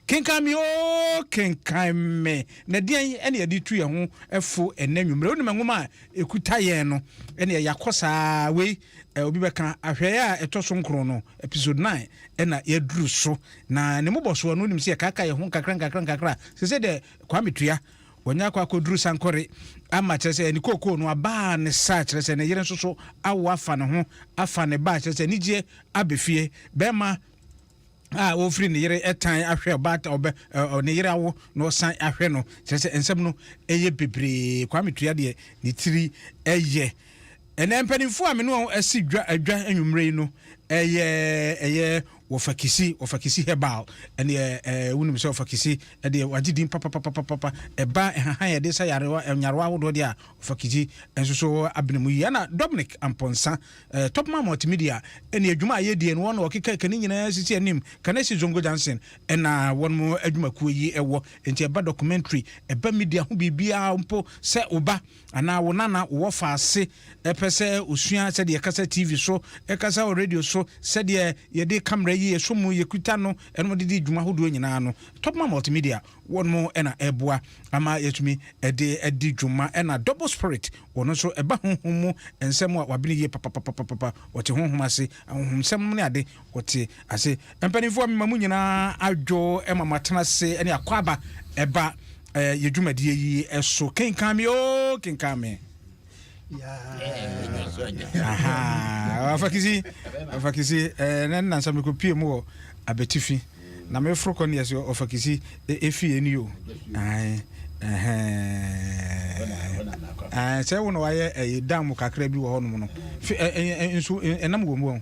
Kenkan me oo, kenkan me. Na deɛn na yɛde tu yɛn ho fo ɛnɛ anwummerɛ? Wonim nwoma a ɛkuta yɛn no? Ɛnneɛ yɛakɔ saa wei eh, obi bɛka ahwɛeɛ a ɛtɔ so nkron no, episode 9 ɛna yɛaduru so. Na ne mmobɔsoɔ no, wonim sɛ yɛkaaka yɛn ho nkakra nkakra nkakra. Sɛ sɛ deɛ Kwame Tua, wɔnyɛ akɔ akɔduru sankɔre ama, kyerɛ sɛ ne kookoo no abaa ne sa, kyerɛ sɛ ne yere nso so awo afa ne ho, afa ne ba, kyerɛ sɛ anigyeɛ abɛfie. Bɛrima a ɔrefiri ne yere tan ahwɛ ɔbaata ɔbɛ ɛ ne yere awo na ɔsan ahwɛ no kyerɛ sɛ nsɛm no ɛyɛ bebree Kwame Tua deɛ ne tiri ɛyɛ ɛnɛ mpanimfoɔ a me ne wɔn asi dwa adwa anwummerɛ yi no ɛyɛ ɛyɛ wɔfakisi wɔfakisi herbal ɛne ɛɛ wonim sɛ wɔfakisi ɛdeɛ wagye din papapapapapa ɛba ɛhahan yɛde sa yarewa nyarewa ahodoɔ deɛ a wɔfakisi nso so abena mu yi ɛna Dominic Ampɔnsa Eh, Topman Multimedia ɛne adwuma a yɛdie no wɔn na wɔkeka ɛka ne nyinaa sisi anim, ka na ɛsi Zongo Johnson ɛna wɔn mo adwumakuo yi ɛwɔ, enti ɛba documentary, ɛba media ho biribiara mpo sɛ wo ba anaa wo nana wo wɔfa ase ɛpɛ sɛ ɔsua sɛdeɛ yɛkasa TV so, yɛkasa wɔ radio so, sɛdeɛ yɛde camera yi ɛsɔ mu, yɛkuta no, ɛnom de di dwuma hodoɔ nyinaa no, Topman Multimedia Wɔn na ɛboa ama yɛatumi de adi dwuma. Ɛna double spirit, wɔn nso ɛba honhom mu nsɛm a wɔabene yie papapapapapa. Wɔte honhom ase, ahonhomsɛm ne ade, wɔte ase. Mpanimfoɔ a mema mo nyinaa adwo ma moatena ase ne akwaaba ba yɛn dwumadie yi so. Kenkan me oo, kenkan me. afakisi afakisi ɛɛ ne nansa mi ko pie mu wɔ abetifi na mi foro kɔ ne yɛsi ɔfakisi efi yɛ ni yo ɛn ɛn sɛ wɔn na wɔayɛ ɛyɛ dan mu kakra bi wɔ hɔ nom no fi ɛɛ nsu ɛnam wɔn mu wɔn.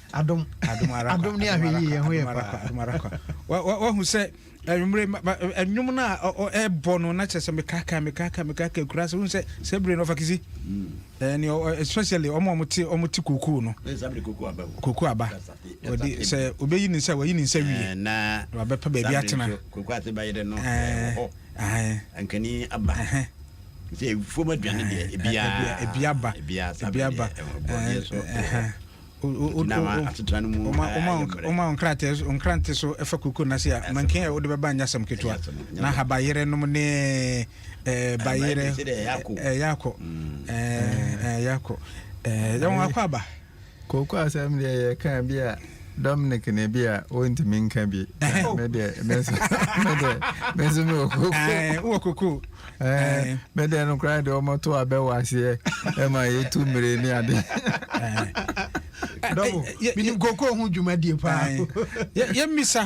adom adom ara adom ne ahwɛ yie ɛho yɛ paa adom ara kwa wahu sɛ anwummere ɛnwom no a ɛbɔ no na kyerɛ sɛ mekaka mekaka mekaka kura sɛ wohu sɛ sɛ bere no ɔfakisi ɛne mm. especially ɔma ɔmote ɔmote kokoo no kokoo aba ɔde sɛ ɔbɛyi ne nsa wayi ne nsa wie na wabɛpɛ baabi atena kokoo ase bɛyere no ɛwɔ hɔ ankani aba sɛ fom aduane deɛ ebiaba ebiaba ebiaba gyina ma asetena no mu ayɛ mmerɛ. Woma nkrante so fa kurukuo no ase a, mankin a wode bɛba nyɛ asɛm ketewa, na habayerɛ nom ne bayerɛ ɛyɛ akɔ. Ɛyɛ akɔ. Yɛ wɔn akɔ aba. Kooko asɛm deɛ yɛ kan bi a Dominic ne bi a wɔntumi nka bi. Me deɛ, me nso me wɔ kooko. Wɔ kooko. Eh, me deɛ no koraa deɛ ɔmɔto abɛ wɔ aseɛ ɛma yɛtu mmire ne ade menim koko ho dwumadie paa yɛmmisa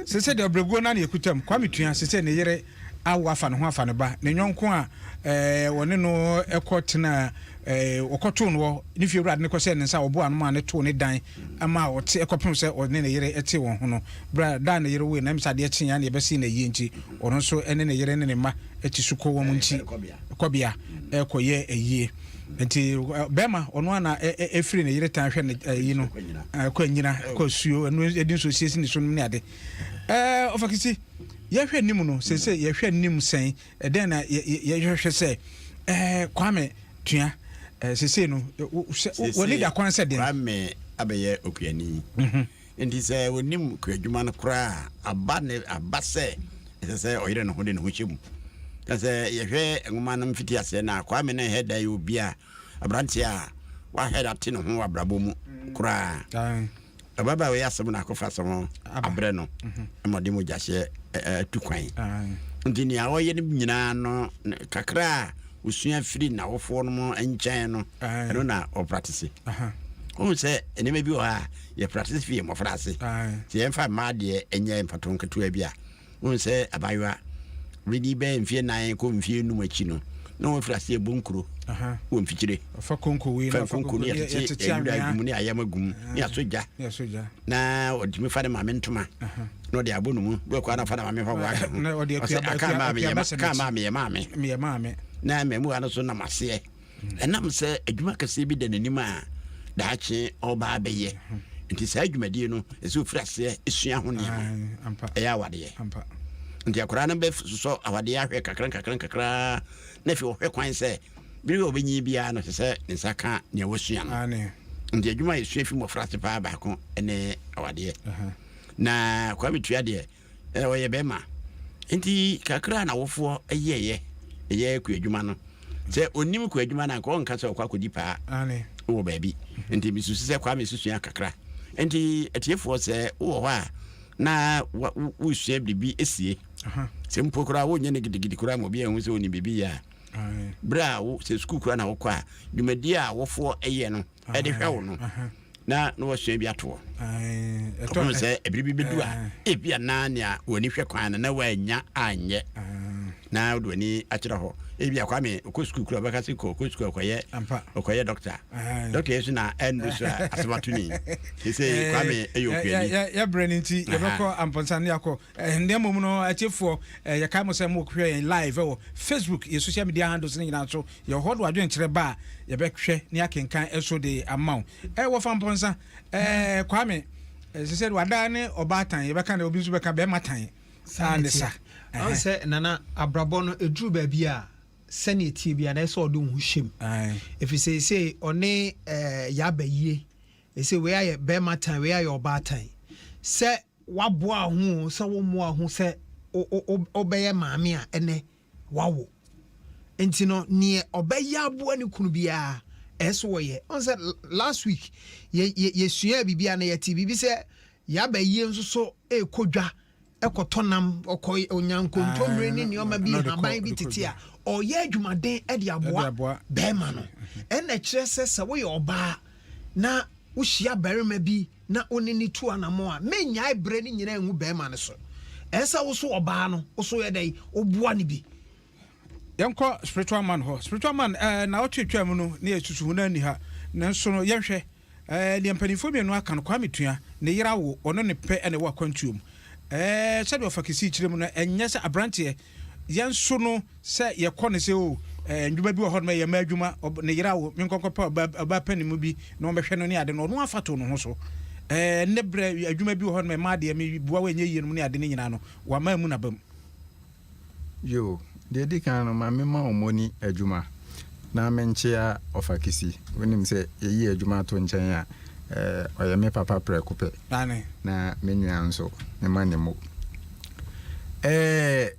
sɛ sɛ deɛ ɔbrɛguo no ne ɛkutam kwame tua sɛ sɛ ne yere awo afa ne ho afa ne ba ne nyɔnko a wɔne no ɛkɔ tena wɔkɔtoo no ne fie wurade no kɔhyɛ ne nsa wɔboa no ma ne too ne dan ɛma a ɔte kɔpem sɛ ɔne ne yere tee wɔn ho no. Berɛ a da a ne yere woeɛ no, na ɛnim sɛ adeɛ kyeeɛ ara na yɛbɛsee no ayie nti, ɔno nso ne ne yere ne ne mma ti so kɔ wɔn nti kɔbea kɔyɛɛ ayie. Nti bɛɛma ɔno ara na ɛfiri ne yere tan hwɛ ne ayi no kɔ anyina kɔ asuo ɛno ɛdi nso siesie ne so nom ne ade. Ɛɛ ɔfakisi yɛhwɛ anim no sese yɛhwɛ anim sɛn Ɛdɛn na yɛhwehwɛ sɛ Kwame tua sesei no? W'ani da kwan sɛ dɛn? Kwame abɛyɛ okuani. Enti sɛ onim kuadwuma no koraa a, aba ne aba sɛ ɛsɛ sɛ ɔyere ne ho de ne ho hyɛ mu. Na sɛ yɛhwɛ nwoma no mfitiaseɛ no a, Kwame na ɛhɛ da yɛ obi a aberanteɛ a w'ahɛre ate ne ho wɔ abrabɔ mu koraa. Ababaawa yi asɛm na akɔfa asɛm ho abrɛ no ma ɔde mogyahyeɛ atu kwan. Nti nea ɔyɛ no nyinaa no kakra a ɔsua firi n'awofoɔ no mu nkyɛn no ɛno na ɔpratese. Wohu sɛ nneɛma bi wɔ hɔ a yɛpratese firi mmɔfra ase. Sɛ yɛmfa mmaa deɛ ɛnyɛ mfato nketewa bi a Wohu sɛ abaayewa, Reddy bɛyɛ mfeɛ nan kɔ mfeɛ num akyi no, na wɔafiri aseɛ bɔ nkuro wɔ mfikyire. Fa konko wei na fa konko ne yɛtete ayuda agum ne ayam agum ne asɔ gya. Na ɔtumi fa ne maame ntoma na ɔde abɔ ne mu. Bɛkɔ ara na ɔfa ne maame fa wɔaka ho. Ɔsɛ aka maa me yɛ maame. Na mmamuwa no so nam aseɛ. Ɛnam sɛ adwuma kɛseɛ bi da n'anim a daakye ɔba abɛyɛ nti saa adwumadie no ɛsɛ ɔfiri aseɛ ɛsua ho nneɛma ɛyɛ awadeɛ nti akwadaa no bɛsosɔ awadeɛ ahwɛ kakra kakra kakra na afei ɔhwɛ kwan sɛ bere a ɔbɛnyi biara no sɛ sɛ ne nsa ka nea wɔsua no nti adwuma a ɛsua fi mmɔfra ase paa baako ne awadeɛ na kwa metua deɛ Ɛ, ɔyɛ bɛɛma. Enti kakra a n'awofoɔ yɛeɛ, yɛ kuadwuma no, sɛ ɔnnim kuadwuma no a, anka ɔrenka sɛ ɔrekɔ akɔdi paa wɔ baabi. Enti mesusu sɛ Kwame susua kakra. Enti atiefoɔ, sɛ wowɔ hɔ a na wa, wo, wosua biribi sie, sɛ mpo koraa wonyɛ no gidigidi koraa ma obi anhu sɛ ɔnim biribi yɛ a, berɛ a wo, sɛ sukuu koraa na wokɔ a, dwumadie a awofoɔ yɛ no, ɛde hwɛ wo no na na wasua bi atoɔ ɔpem sɛ ɛbere bi bɛdu a ebi a na nea w'ani hwɛ kwan no na woannya anyɛ na wode w'ani akyerɛ hɔ ebi akwa me ɔkɔ sukuu kura bɛka se kɔ ɔkɔ sukuu ɔkɔyɛ ɔkɔyɛ dɔkta dɔkta yɛ so na ɛndu so a asɛm ato ni ɛsɛ kwa me ɛyɛ okuani yɛbrɛ no nti yɛbɛkɔ ampɔnsa ne akɔ Na mmom no, atiefoɔ, yɛkae mo sɛ mohwɛ yɛn live wɔ Facebook, yɛn social media handles no nyinaa so. Yɛwɔ hɔ de w'adwenkyerɛ ba a, yɛbɛhwɛ ne akenkan so de ama wo. Wɔfa mpɔnsa, Kwame, ɛsɛ sɛ wada ne ɔbaa tan, yɛbɛka dɛ obi nso bɛka bɛrima tan. Saa ne sa. Wahu sɛ, Nana, abrabɔ no, ɛduru baabi a, sɛdeɛ ɛteɛ biara no, ɛsɛ sɛ ɔde wo ho hyɛ mu. Ɛfiri sɛ seesei ɔne yɛ aba yie. Seesei wei ayɛ bɛrima tan, wei ayɛ ɔbaa tan. Sɛ Woaboa ho oo, sɛ wommoa ho sɛ wobɛyɛ maame a ɛnnɛ woawo nti no, neɛ ɔbɛyɛ aboa ne kunu biara ɛso ɔyɛ. Ɔn sɛ last week yɛsuaa biribi a na yɛte biribi sɛ yaba yie nso so ɛrekɔ dwa ɛkɔtɔ nam ɔkɔ ɔnya nkontommire ne nneɛma bi haban bi tete a ɔyɛ adwumaden de aboa bɛrima no. Ɛna kyerɛ sɛ sɛ woyɛ ɔbaa na wohyia barima bi na wo ne no tu anammɔn a, mennyae berɛ no nyinaa ngu barima no so. Ɛyɛ sɛ wo nso ɔbaa no, wo nso yɛ dɛn? Woboa no bi. Yɛnkɔ spiritual man hɔ. Spiritual man, ɛɛ, nnawɔtwe atwaa mu no, na yɛsusu ho, na anni ha. Nanso no, yɛnhwɛ, ɛɛ, deɛ mpanimfoɔ mmienu aka no, Kwame Tua, ne yere awo, ɔno ne pɛ na ɛwɔ akwantuo mu. Ɛɛ, sɛdeɛ ɔfa Kisii kyerɛ mu no, ɛnyɛ sɛ aberanteɛ, yɛn nso no, Sɛ yɛkɔ no sɛ o ɛɛ ndwuma bi wɔ hɔ nom ɛyɛ mmaa adwuma ɔb ne yere awo menkɔ nkɔpɛ ɔbaa ɔbaa panin mu bi na ɔmmɛhwɛ no ne ade no ɔno afa to ne ho so ɛɛ ne berɛ adwuma bi wɔ hɔ nom mmaa deɛ me boa wo ɛnyɛ yie nom ne ade no nyinaa no wama amu n'abam. Yoo, deɛ ɛdi kan no ma me ma ɔmɔni adwuma na me nkyea ɔfakisi wonim sɛ yɛyi adwuma ato nkyɛn a ɛɛ ɔyɛ me papa prɛko pɛ Aane. na me nua nso me ma ne mo ɛɛ.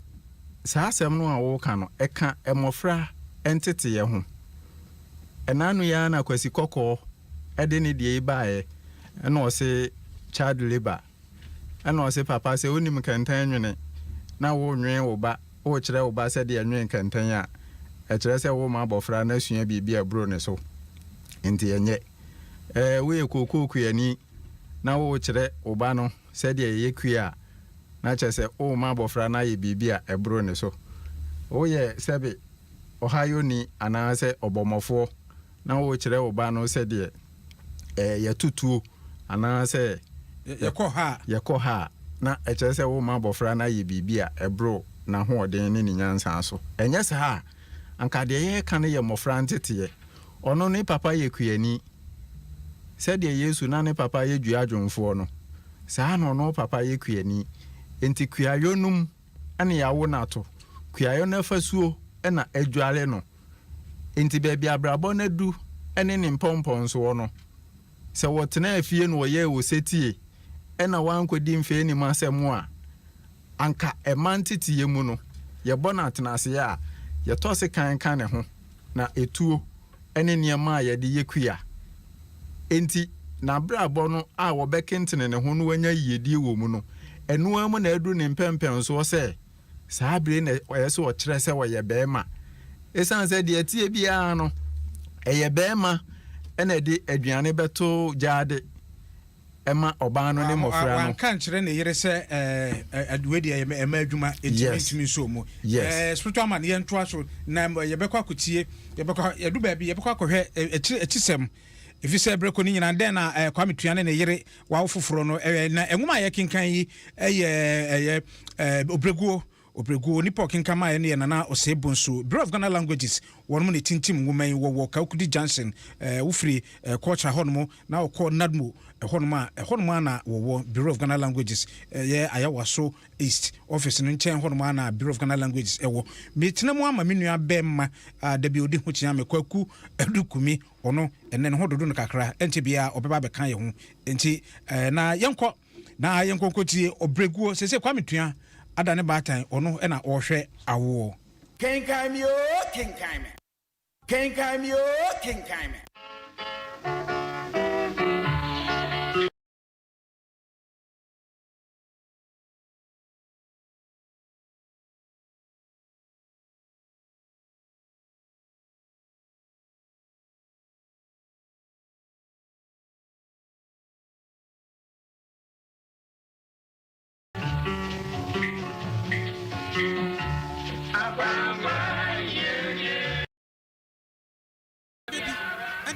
Saa asɛm no a woreka no, ɛka mmɔfra nteteeɛ ho. Ɛnnaano yi ara na Kwasi Kɔkɔɔ de ne deɛ yi baeɛ, ɛna ɔse child labour, ɛna ɔse papa sɛ wonim kɛntɛn nwene na worenwene wo ba, worekyerɛ wo ba sɛdeɛ ɛnwene kɛntɛn a, ɛkyerɛ sɛ worema abɔfra no asua biribi a ɛboro ne so, enti ɛnyɛ. Ɛɛ, woyɛ kookookuani na worekyerɛ wo ba no. Sɛdeɛ yɛyɛ kue a, na kyerɛ sɛ worema abɔfra no ayɛ biribi a ɛboro ne so. Woyɛ sɛbe ɔhayɔni anaasɛ ɔbɔmmɔfoɔ na worekyerɛ wo ba no sɛdeɛ ɛɛ yɛto tuo anaasɛ yɛkɔ ha a, yɛkɔ ha a, na ɛkyerɛ sɛ worema abɔfra no ayɛ biribi a ɛboro n'ahoɔden ne ne nyansa so. Ɛnyɛ saa a, anka deɛ yɛreka no yɛ mmɔfra nteteɛ. Ɔno ne papa yɛ kuani. Sɛdeɛ Yesu na ne papa yɛ dua dwomfoɔ no, saa ara na ɔno papa yɛ kuani. Enti kuayɔ no mu na yɛawo no ato. Kuayɔ no afasuo na adware no. Enti baabi a abrabɔ no adu ne ne mpɔmpɔnsoɔ no, sɛ wɔtenaa fie na wɔyɛɛ osetie na wɔankɔdi mfɛnnim asɛm a, Anka ɛma nteteyɛ mu no, yɛbɔ no atenaseɛ a, yɛtɔ sekan ka ne ho, na etuo ne nneɛma a yɛde yɛ kua. Enti, n'abrabɔ no a wɔbɛkentene ne ho na wanya yiyedie wɔ mu no, ɛno ara mu na aduru ne mpɛmpɛnsoɔ sɛ saa bere yi na ɛyɛ sɛ ɔkyerɛ sɛ ɔyɛ barima. Ɛsiane sɛ deɛ ɛteɛ biara no, ɛyɛ barima na ɛde aduane bɛto gyaade, ɛma ɔbaa no ne mmɔfra no. Wanka nkyerɛ ne yere sɛ ɛɛ wei deɛ ɛyɛ ɛma adwuma enti mentumi nso mu. Ɛɛ spiritual man yɛntoa so na yɛbɛkɔ akɔtie yɛbɛkɔ yɛdu baabi yɛbɛkɔ akɔhwɛ akyiri akyisɛm ɛfiri sɛ berɛ kɔ ne nyinaa dɛn na ɛɛ Kwame Tua ne ne yere wawo foforɔ no ɛɛ na nwoma a yɛkenkan yi ɛyɛ ɛyɛ ɛɛ obreguo Obregu, onipa a ɔkenkan maeɛ no yɛ Nana Osei Bonsu, Bureau of Ghana Languages, wɔnom na ɛtintim nwoma yi, wɔwɔ Kawukudi Junction, eh, wofiri eh, Kɔɔkyra hɔnom na wɔkɔ Nadmo eh, hɔnom a, ɛhɔnom ara na wɔwɔ Bureau of Ghana Languages, ɛyɛ eh, Ayawaso East office no nkyɛn hɔnom ara na Bureau of Ghana Languages ɛwɔ. Metena mu ama me nua bɛɛma a da bi ɔdi ho kyea me, Kwaku Adukumi, ɔno ɛnɛ ne ho dodo no kakra, ɛnkyɛ biara ɔbɛba abɛka yɛ ho, nti eh, na yɛnkɔ. Na yɛn nkonko tie ɔbrɛguo. Sese Kwame Tua ada ne baatan ɔno na ɔɔhwɛ awoɔ. Kenkan me oo kenkan me. Kenkan me oo kenkan me.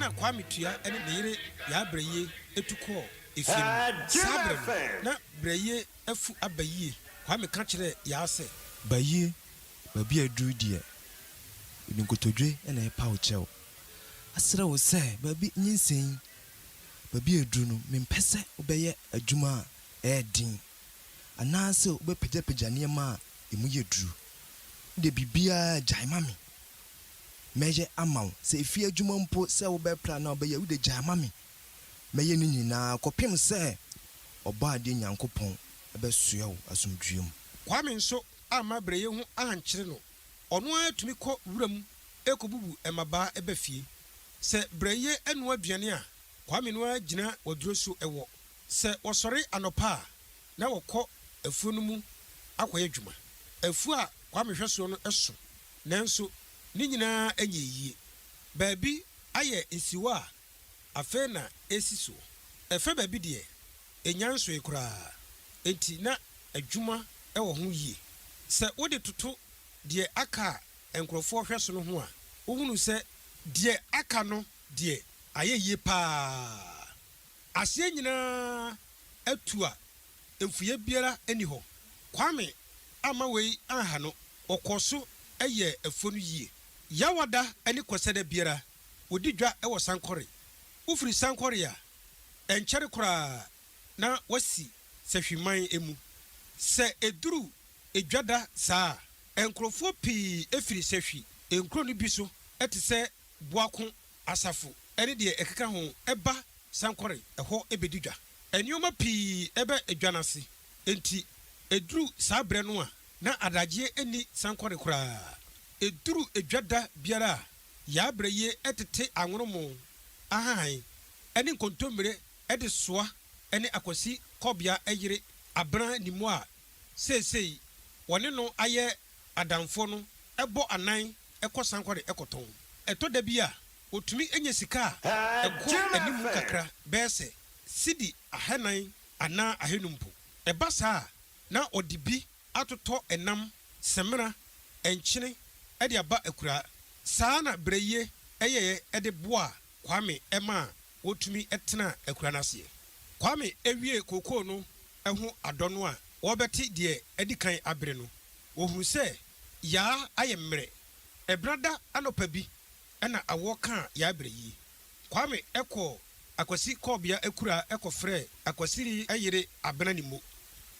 na Kwame Tua ne ne yere Yaa Brɛyie tu kɔɔ efie no mu. Saa berɛ no, na Brɛyie afu aba yie. Kwame ka kyerɛɛ Yaa sɛ. Bayie, baabi a aduru deɛ, mede nkotodwe na ɛrepa wo kyɛw. Asrɛ wo sɛ baabi nyinsɛn. baabi a aduru no, mempɛ sɛ wobɛyɛ adwuma a ɛyɛ den anaasɛ wobɛpagyapagya nneɛma a emu yɛ duru. Wo deɛ, biribiara gyae ma me. Mɛyɛ ama wo. Sɛ efie adwuma mpo sɛ wobɛpra anaa wobɛyɛ a, wo deɛ, gyae ma me. Mɛyɛ ne nyinaa kɔpem sɛ Ɔbɔadeɛ Nyankopɔn bɛsoɛ wo asomdwoeɛ mu. Kwame nso amma berɛyɛ hu ankyere no. Ɔno ara tumi kɔ wuram kɔbubu mmabaa ba fie. Sɛ brɛ ye ɛnoa aduane a, Kwame no ara gyina waduro so wɔ. Sɛ wɔsɔre anɔpa a, na wɔkɔ afuo no mu akɔyɛ adwuma. Afuo a Kwame hwɛ soɔ no so, nanso ne nyinaa nyɛɛ yie. Baabi ayɛ nsiwa a afei na ɛresi soɔ. Ɛfɛ baabi deɛ, ɛnya nsoe koraa, enti na adwuma wɔ ho yie. Sɛ wode toto deɛ aka a nkurɔfoɔ hwɛ so no ho a, wohunu sɛ deɛ aka no deɛ ayɛ yie pa ara. Aseɛ nyina ara atu a mfuiɛ biara nni hɔ. Kwame amma wei anha no, ɔkɔɔ so yɛɛ afuo no yie. Yawada ne Kwasiada biara, wɔdi dwa wɔ Sankore. Wofiri Sankore a, ɛnkyɛre koraa na wɔasi sahwiman mu. Sɛ ɛduru dwada saa a, nkurɔfoɔ pii firi sahwi nkuro no bi so te sɛ Boako, Asafo ne deɛ ɛkeka ho ba sankɔre hɔ bɛdi dwa. Nnoɔma pii bɛ dwa no ase, enti ɛduru saa berɛ no a na adagyeɛ nni sankɔre koraa. Ɛduru dwada biara a, yɛabrɛ yie tete anwonomo, ahahan ne nkontommire de soa ne Akwasi Kɔbea yere Abena Nimmo a seesei wɔne no ayɛ adamfoɔ no bɔ anan kɔ Sankware kɔtɔn. Ɛtɔ da bi a, wɔtumi nya sika a ɛkɔ anim kakra bɛyɛ sɛ sidi ahanan anaa ahanum mpo. Ɛba saa a, na wɔde bi atotɔ nam, samina, nkyene de aba akuraa. Saa na Berɛyie yɛeɛ de boaa Kwame maa wotumi tena akura no aseɛ. Kwame wiee kookoo no ho adɔ no a wɔrebɛte deɛ adi kan abere no, wɔhunu sɛ Yaa ayɛ mmerɛ. Ɛbenada anɔpa bi na awoɔ kaa Yaa berɛyie. Kwame kɔɔ Akwasi kɔɔbea akuraa kɔfrɛɛ Akwasiri yere Abena Nimmo.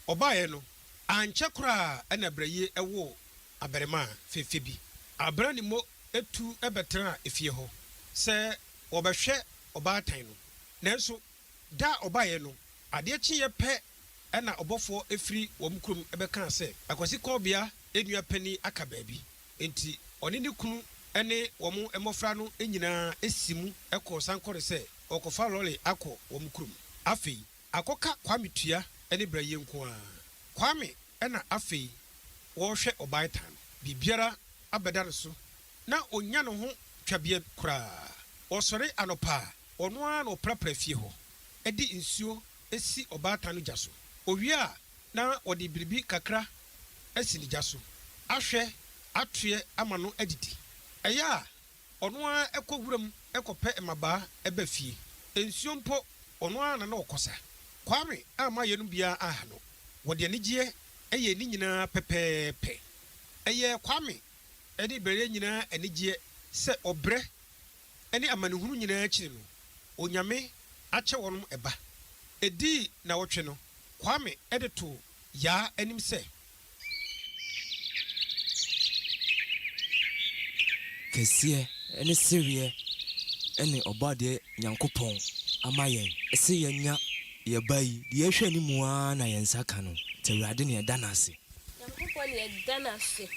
Ɔbaeɛ no, ankyɛ koraa na berɛyie woo abarimaa fɛfɛ bi. Abena Nimmo tu bɛtenaa efie hɔ sɛ wɔbɛhwɛ ɔbaatan no. Nanso da a ɔbaeɛ no, adeɛ kyeeɛ pɛ na ɔbɔfoɔ firi wɔn kurom bɛkaa sɛ, Akwasi Kɔɔbea nua panin aka baabi. Enti ɔne ne kunu ne wɔn mmɔfra no nyinaa si mu kɔɔ sankɔre sɛ wɔrekɔfa lɔre akɔ wɔn kurom. Afei Akɔka Kwame tua ne bra yie nko ara. Kwame na afei wɔrehwɛ ɔbaetan. Biribiara abɛda no so na ɔnnya ne ho twabea koraa. Ɔsɔre anɔpa a, ɔno ara na ɔprapra fie hɔ de nsuo si ɔbaatan no gya so. Ɔwie a na ɔde biribi kakra asi ne gya so ahwɛ atoeɛ ama no adidi. Ɛyɛ a Ɔno ara kɔ wuram kɔpɛ mmabaa ba fie. Nsuo mpo, ɔno ara na na ɔkɔ sa. Kwame amma yeinom biara anha no. Wɔde anigyeɛ yɛɛ ne nyinaa pɛpɛɛpɛ. Ɛyɛɛ Kwame ne Bereɛ nyinaa anigyeɛ sɛ ɔbrɛ ne amanehunu nyinaa akyiri no, Onyame akyɛ wɔnom ba. Ɛdii nnawɔtwe no, Kwame de too Yaa anim sɛ Kɛseɛ ne sereɛ ne Ɔbɔadeɛ Nyankopɔn ama yɛn. Se yɛnya yɛ ba yi, deɛ ɛhwɛ ne mu ara na yɛn nsa ka no, nti Awurade na yɛda no ase. Nyankopɔn na yɛda no ase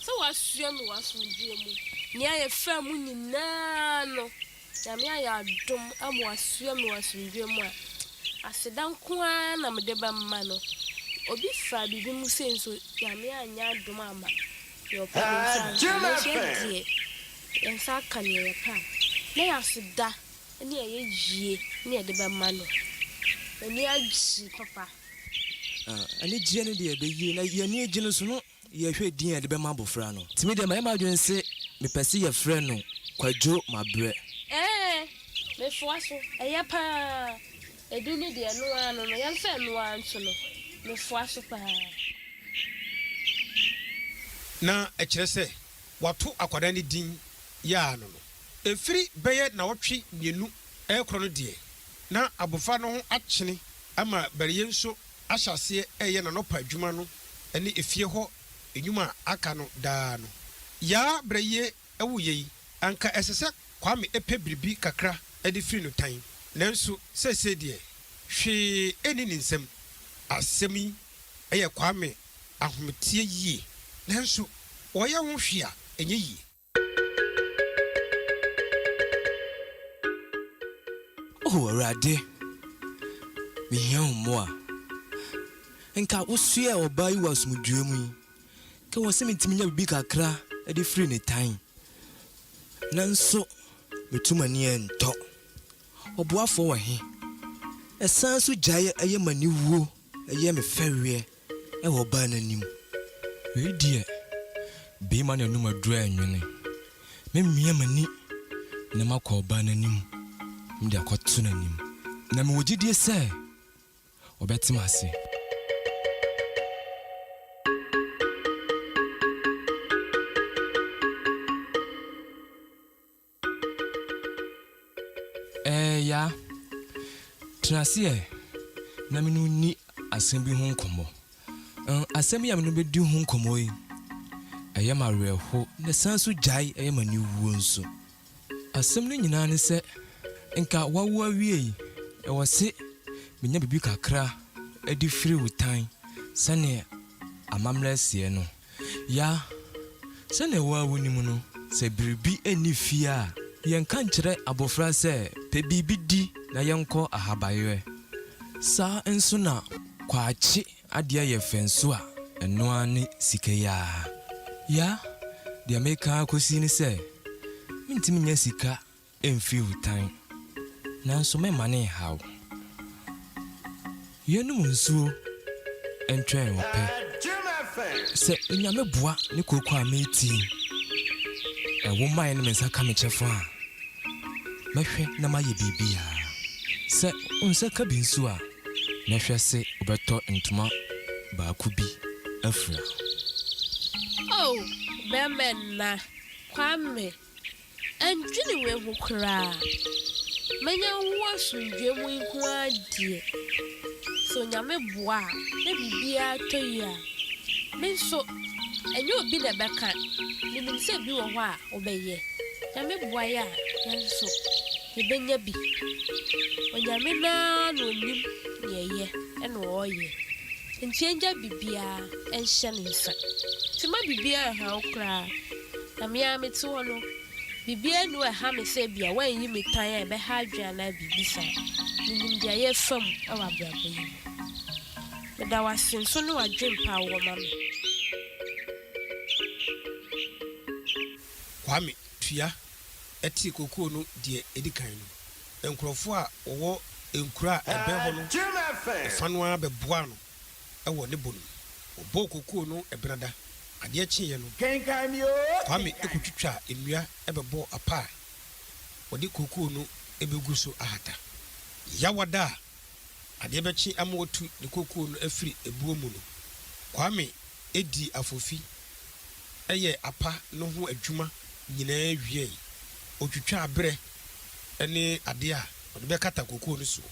sɛ wasoa me wɔ asomdwoeɛ mu. Nea yɛfaa mu nyinaa no, Nyame ayɛ adom ama wasua me wɔ asomdwoe mu a, aseda nko ara na mede bɛma no. Obi faa biribi mu sei nso, Nyame anyɛ adom amma nea ɔpɛ ne nsa anka. Nanso yɛn deɛ, yɛn nsa aka nea yɛpɛ a, na yɛ aseda ne ɛyɛ yie na yɛde bɛma no. M'ani agye papa. Anigyeɛ no deɛ ɛbɛyie, na yɛn ani agye no nso no. Yɛhwɛ din a yɛde bɛma abofra no. Nti me deɛ mayɛ m'adwene se mepɛ se yɛfrɛ no Kwadwo Mabrɛ. Ɛɛ mefoa so, ɛyɛ paa. Edu no deɛ ɛno ara no no, yɛmfa ɛno ara nto no. Mefoa so paa. Na ɛkyerɛ sɛ wɔato akwadaa no din Yaa no no. Ɛfiri bɛyɛ nnawɔtwe mmienu rekorɔ no deɛ, na abofra no ho akyene ama Baryɛ nso ahyɛ aseɛ reyɛ n'anɔpa adwuma no ne efie hɔ nnwuma a aka no daa no. Yaa Brɛyie wuiɛ yi, anka ɛsɛ sɛ Kwame pɛ biribi kakra de firi no tan, nanso seesei deɛ hwee nni ne nsam. Asɛm yi yɛ Kwame ahometeɛ yie, nanso ɔyɛ ho hwee a ɛnyɛ yie. O Awurade, mehia wo mmoa. Nka wosoɛɛ ɔbaa yi wɔ asomdwoeɛ mu yi, ka wɔ sɛ metumi nya biribi kakra de firi ne tan, nanso metu m'ani ntɔ. Ɔboafoɔ wɔ he? Ɛsan so gyae yɛ m'aniwuo. Yɛ me fɛreɛ wɔ ɔbaa no anim. Wei deɛ beema na anum aduro ɛnwene. Me mia m'ani na makɔ ɔbaa no anim me de akɔto n'anim. Na mewɔ gyidie sɛ ɔbɛte m'ase. Ɛɛ ya. Tena ase ɛ na me ne wo nni asɛm bi ho nkɔmmɔ. Ɛn, asɛm yi a me ne wo bɛdi ho nkɔmmɔ yi, ɛyɛ me awerɛhow na ɛsan nso gyae yɛ me aniwuo nso. Asɛm no nyinaa ne sɛ, nka woawo awiei, ɛwɔ se menya biribi kakra de firi wo tan sɛdeɛ amammerɛ seɛ no. Ya, sɛnea wo ara wunim no, sɛ biribi nni fie a, yɛnka nkyerɛ abofra sɛ, Pɛ biribi di na yɛnkɔ ahabayerɛ. Saa nso na kwakye adeɛ yɛ fɛ nso a, ɛno ara ne sika yi ara. Ya, deɛ meka ara kɔsi ne sɛ, mentumi nyɛ sika Ɛmfiri wo tan, nanso meremma no nnhaw wo. Yɛnnom nsuo ntwɛn wo pɛ. Sɛ Onyame boa ne kooko a mereti yi, na wo mmaeɛ no me nsa ka me kyɛfa a, mɛhwɛ na mayɛ biribiara. Sɛ wo nsa ka bi nso a, mɛhwɛ se wobɛtɔ ntoma baako bi afira. Oh, bɛmɛnna, Kwame. Ɛndwene wei ho koraa. Mɛnya wo asomdwoeɛ mu nko ara deɛ. Sɛ Onyame boa a, na biribiara tɔ yie a, me nso, ɛnyɛ obi na ɛbɛka, menim sɛ bi wɔ hɔ a wobɛyɛ. Nyame boa yɛ a, yɛn nso, yɛbɛnya bi. Onyame no ara na ɔnim deɛ ɛyɛ na ɔreyɛ. Nti ɛngya biribiara nhyɛ ne nsa. Nti mma biribiara nha wo koraa. Na me ara mete hɔ no, biribiara nni hɔ a ɛha me sɛ ebia wɔanyi me tan a ɛbɛha adwene anaa biribi saa. Minim nea yɛrefa mu wɔ abrabɔ yi mu. Meda wo ase nso ne w'adwempa a wowɔ ma me. Kwame tua tee kookoo no deɛ ɛdi kan no, nkurɔfoɔ a wɔwɔ nkuro a ɛbɛn hɔ no fa no ara bɛboaa no. wɔ ne bo no. Wɔbɔɔ kookoo no Benada. Adeɛ kyeeɛ no, Kwame kɔtwitwaa nnua bɛbɔɔ apa a wɔde kookoo no bɛgu so ahata. Yawada a adeɛ bɛkye ama watu ne kookoo no afiri ɛboɔ mu no, Kwame dii afofi yɛɛ apa no ho adwuma nyinaa wieeɛ. Ɔtwitwaa berɛ ne adeɛ a wɔde bɛkata kookoo no soɔ.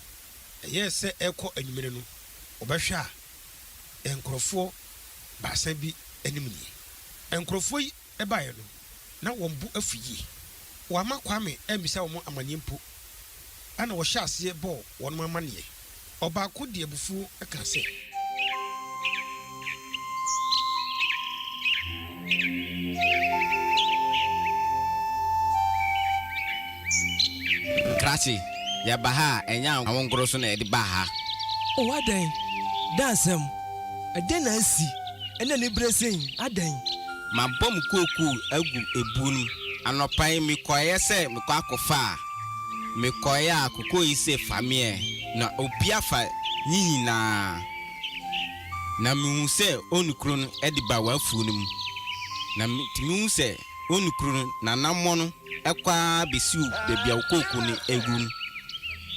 Ɛyɛɛ sɛ ɛrekɔ anwummere no, wɔbɛhwɛ a, nkurɔfoɔ baasa bi anim nie. Nkurɔfoɔ yi baeɛ no, na wɔn bo afu yie. Wɔamma Kwame ammisa wɔn amanneɛ mpo. Ɛnna wɔhyɛɛ aseɛ bɔɔ wɔn amanneɛ. Ɔbaako de abufuo kaa sɛ. Krakye, yɛba ha a, ɛnyɛ anwonkoro so na yɛde baa ha. O, adɛn? Dɛn asɛm? Ɛdɛn na asi? Ɛnna anibere sen yi, adɛn? Mabɔ me kookoo agu ebuo no mu. Anɔpa yi, mekɔeɛ sɛ mekɔ akɔfa a. Mekɔe a kokoyi se fa me ɛ, na opia fa nyi nyinaa. Na mehu sɛ onu koro no de ba w'afuo no mu. Na metumi hu sɛ onu koro no n'anammɔn no kɔ ara besiw baabi a wo kooko no awu no.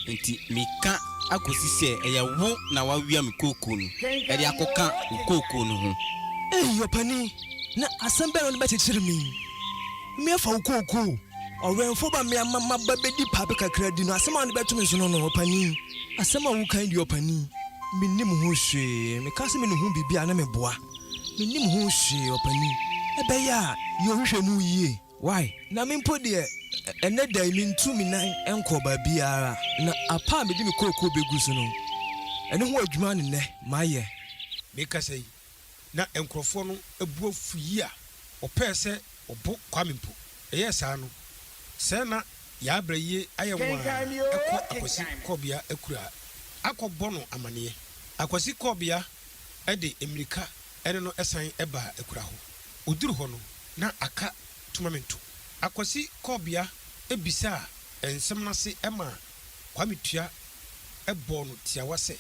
Enti meka akosi sɛ ɛyɛ wo na woawia me kooko no de akɔka wo kooko no ho. Ei ɔpanin, na asɛm bɛn na wode bɛkyekyere me yi? Mmea fa wo kookoo. Ɔwɛnfo ba mmea ma maba bedi paape kakra di no asɛm a ɔne bɛto me so no no ɔpanin asɛm a woka yi deɛ ɔpanin mennim ho hwee meka sɛ menuhu biribi a na meboa mennim ho hwee ɔpanin ɛbɛyɛ a yɛ wohwɛ mu yie wai na me mpo deɛ ɛnɛ da yi mentu me nan nkɔ baabiara na apa a mede me kookoo bɛgu so no ɛno ho adwuma ne nɛ mayɛ mekasa yi. na nkurɔfoɔ no bo afu yie a wɔpɛɛ sɛ wɔbo Kwame mpo. Ɛyɛɛ saa no, sɛɛ na Yaabrɛ yie ayɛ nwaa kɔ Akwasi Kɔɔbea akuraa akɔ bɔ no amaneɛ. Akwasi Kɔɔbea de mmirika ne no san baa akuraa hɔ. Ɔduru hɔ no, na aka tomamento. Akwasi Kɔɔbea bisaa nsɛm no ase maa Kwame Tua bɔɔ no tiawa sɛ.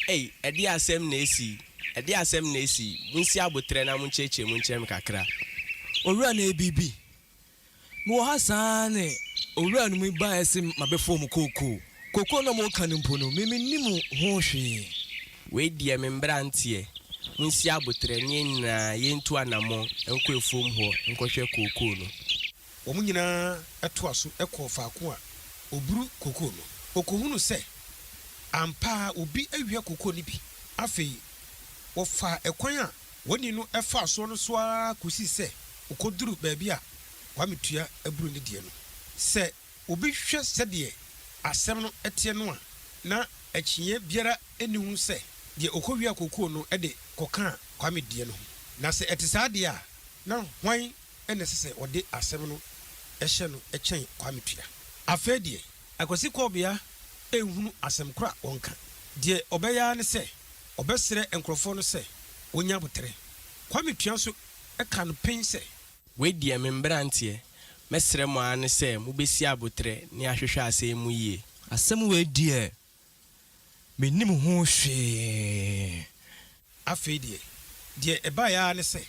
Ei, ɛdeɛn asɛm na asi yi? Ɛdeɛn asɛm na asi yi? Monsi aboterɛ na monkyerɛkyerɛ mu nkyerɛ me kakra. Owura na ɛrebibi. Mewɔ ha saa ara ne owura no mu baeɛ se mabɛfɔɔ mo kookoo. Kookoo no a moreka no mpo no, me mennim ho hwee. Wei deɛ me mmeranteɛ, monsi aboterɛ ne yɛn nyinaa yɛntu anammɔn nkɔ afuom hɔ nkɔhwɛ kookoo no. Wɔn nyinaa toa so kɔɔ faako a oburu kokoo no. Okohunuu sɛ ampa ara obi awia kokoo no bi. Afei wɔfaa ɛkwan a wɔne no faa so no so ara kosii sɛ wokoduruu baabi a Kwame tua aburo ne deɛ no. Sɛ obi hwɛ sɛdeɛ asɛm no teɛ no a, na akyinnyeɛ biara nni ho sɛ deɛ okowiaa kokoo no de kɔkaa Kwame deɛ no ho. Na sɛ ɛte saa deɛ a, na hwan na ɛsɛ sɛ wɔde asɛm no hyɛ no kyɛn Kwame Tua. Afei deɛ, Akwasi Kɔɔbea nhunu asɛm korɔ a wɔnka. Deɛ ɔbɛyɛ ara ne sɛ ɔbɛsrɛ nkorɔfoɔ no sɛ wɔnya aboterɛ. Kwame Tua nso ka no pen sɛ. Wei deɛ, me mberanteɛ, mɛsrɛ mo ara ne sɛ mobɛsi aboterɛ ne ahwehwɛ asɛm mu yie. Asɛm wei deɛ, Mennim ho hwee. Afei deɛ, deɛ ɛbaeɛ ara ne sɛ,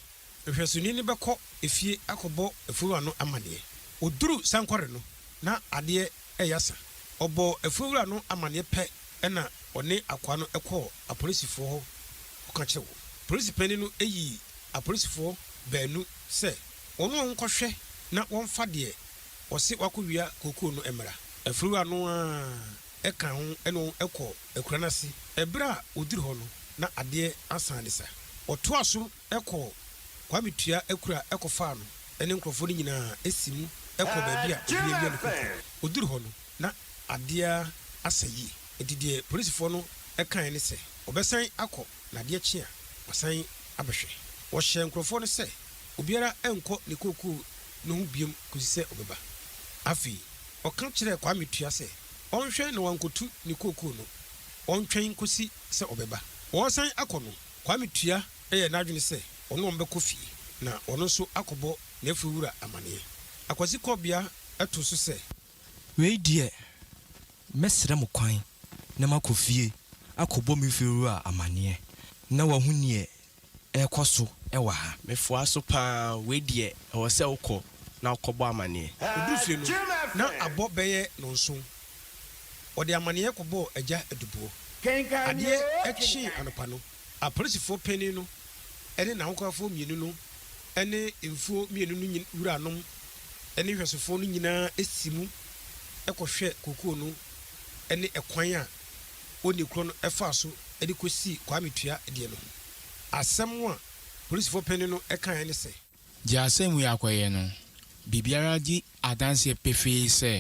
nhwɛsoni no bɛkɔ efie akɔbɔ afuowura no amanneɛ. Ɔduruu sankɔre no, na adeɛ reyɛ asa. Ɔbɔɔ afuowura no amanneɛ pɛ na ɔne akoa no kɔɔ apolisifoɔ hɔ kɔka kyerɛɛ wɔn. Polisi panin no yii apolisifoɔ baanu sɛ wɔne wɔn nkɔhwɛ na wɔmfa deɛ wɔse wɔakɔwia kookoo no mmra. Afuowura no ara ka ho ne wɔn kɔ akuraa no ase. Bere a wɔduru hɔ no, na adeɛ asan de sa. Wɔtoaa so kɔɔ Kwame Tua akuraa kɔfaa no ne nkurɔfoɔ no nyinaa si mu kɔɔ baabi a obi awia ne koko. Wɔduru hɔ no, na adeɛ asa yie, enti deɛ polisifoɔ no kaeɛ ne sɛ wɔbɛsan akɔ. Na adeɛ kye a, wɔasan abɛhwɛ. Wɔhyɛɛ nkurɔfoɔ no sɛ obiara nnkɔ ne kookoo no ho biom kɔsi sɛ ɔbɛba. Afei wɔka kyerɛɛ Kwame Tua sɛ ɔnhwɛ na wankɔtu ne kookoo no, ɔntwɛn nkɔsi sɛ ɔbɛba. Wɔresan akɔ no, Kwame Tua yɛɛ n'adwene sɛ ɔne wɔn bɛkɔ fie na ɔno nso akɔbɔ n'afuo wura amaneɛ. Akwasi Kɔbea too so sɛ. Wei deɛ, mɛsrɛ mo kwan na makɔ fie akɔbɔ me fiewura amanneɛ na wahu neɛ ɛrekɔ so wɔ ha. Mefoa so pa ara, wei deɛ ɛwɔ sɛ wokɔ na wokɔbɔ amanneɛ. Ɔduu fie no, na abɔ bɛyɛ nnɔnson. Ɔde amanneɛ kɔbɔɔ Agya Aduboɔ. Adeɛ kyee anɔpa no, Apolisifoɔ panin no ne n'ahokafoɔ mmienu no ne mfuo mmienu no wuranom ne nhwɛsofoɔ no nyinaa si mu kɔhwɛ kookoo no ne ɛkwan a wɔnni korɔ no faa so de kɔsii Kwame Tua deɛ no ho. Asɛm a polisifoɔ panin no kaeɛ ne sɛ. Gye asɛm wei akɔyɛ no, biribiara di adanseɛ pefee sɛ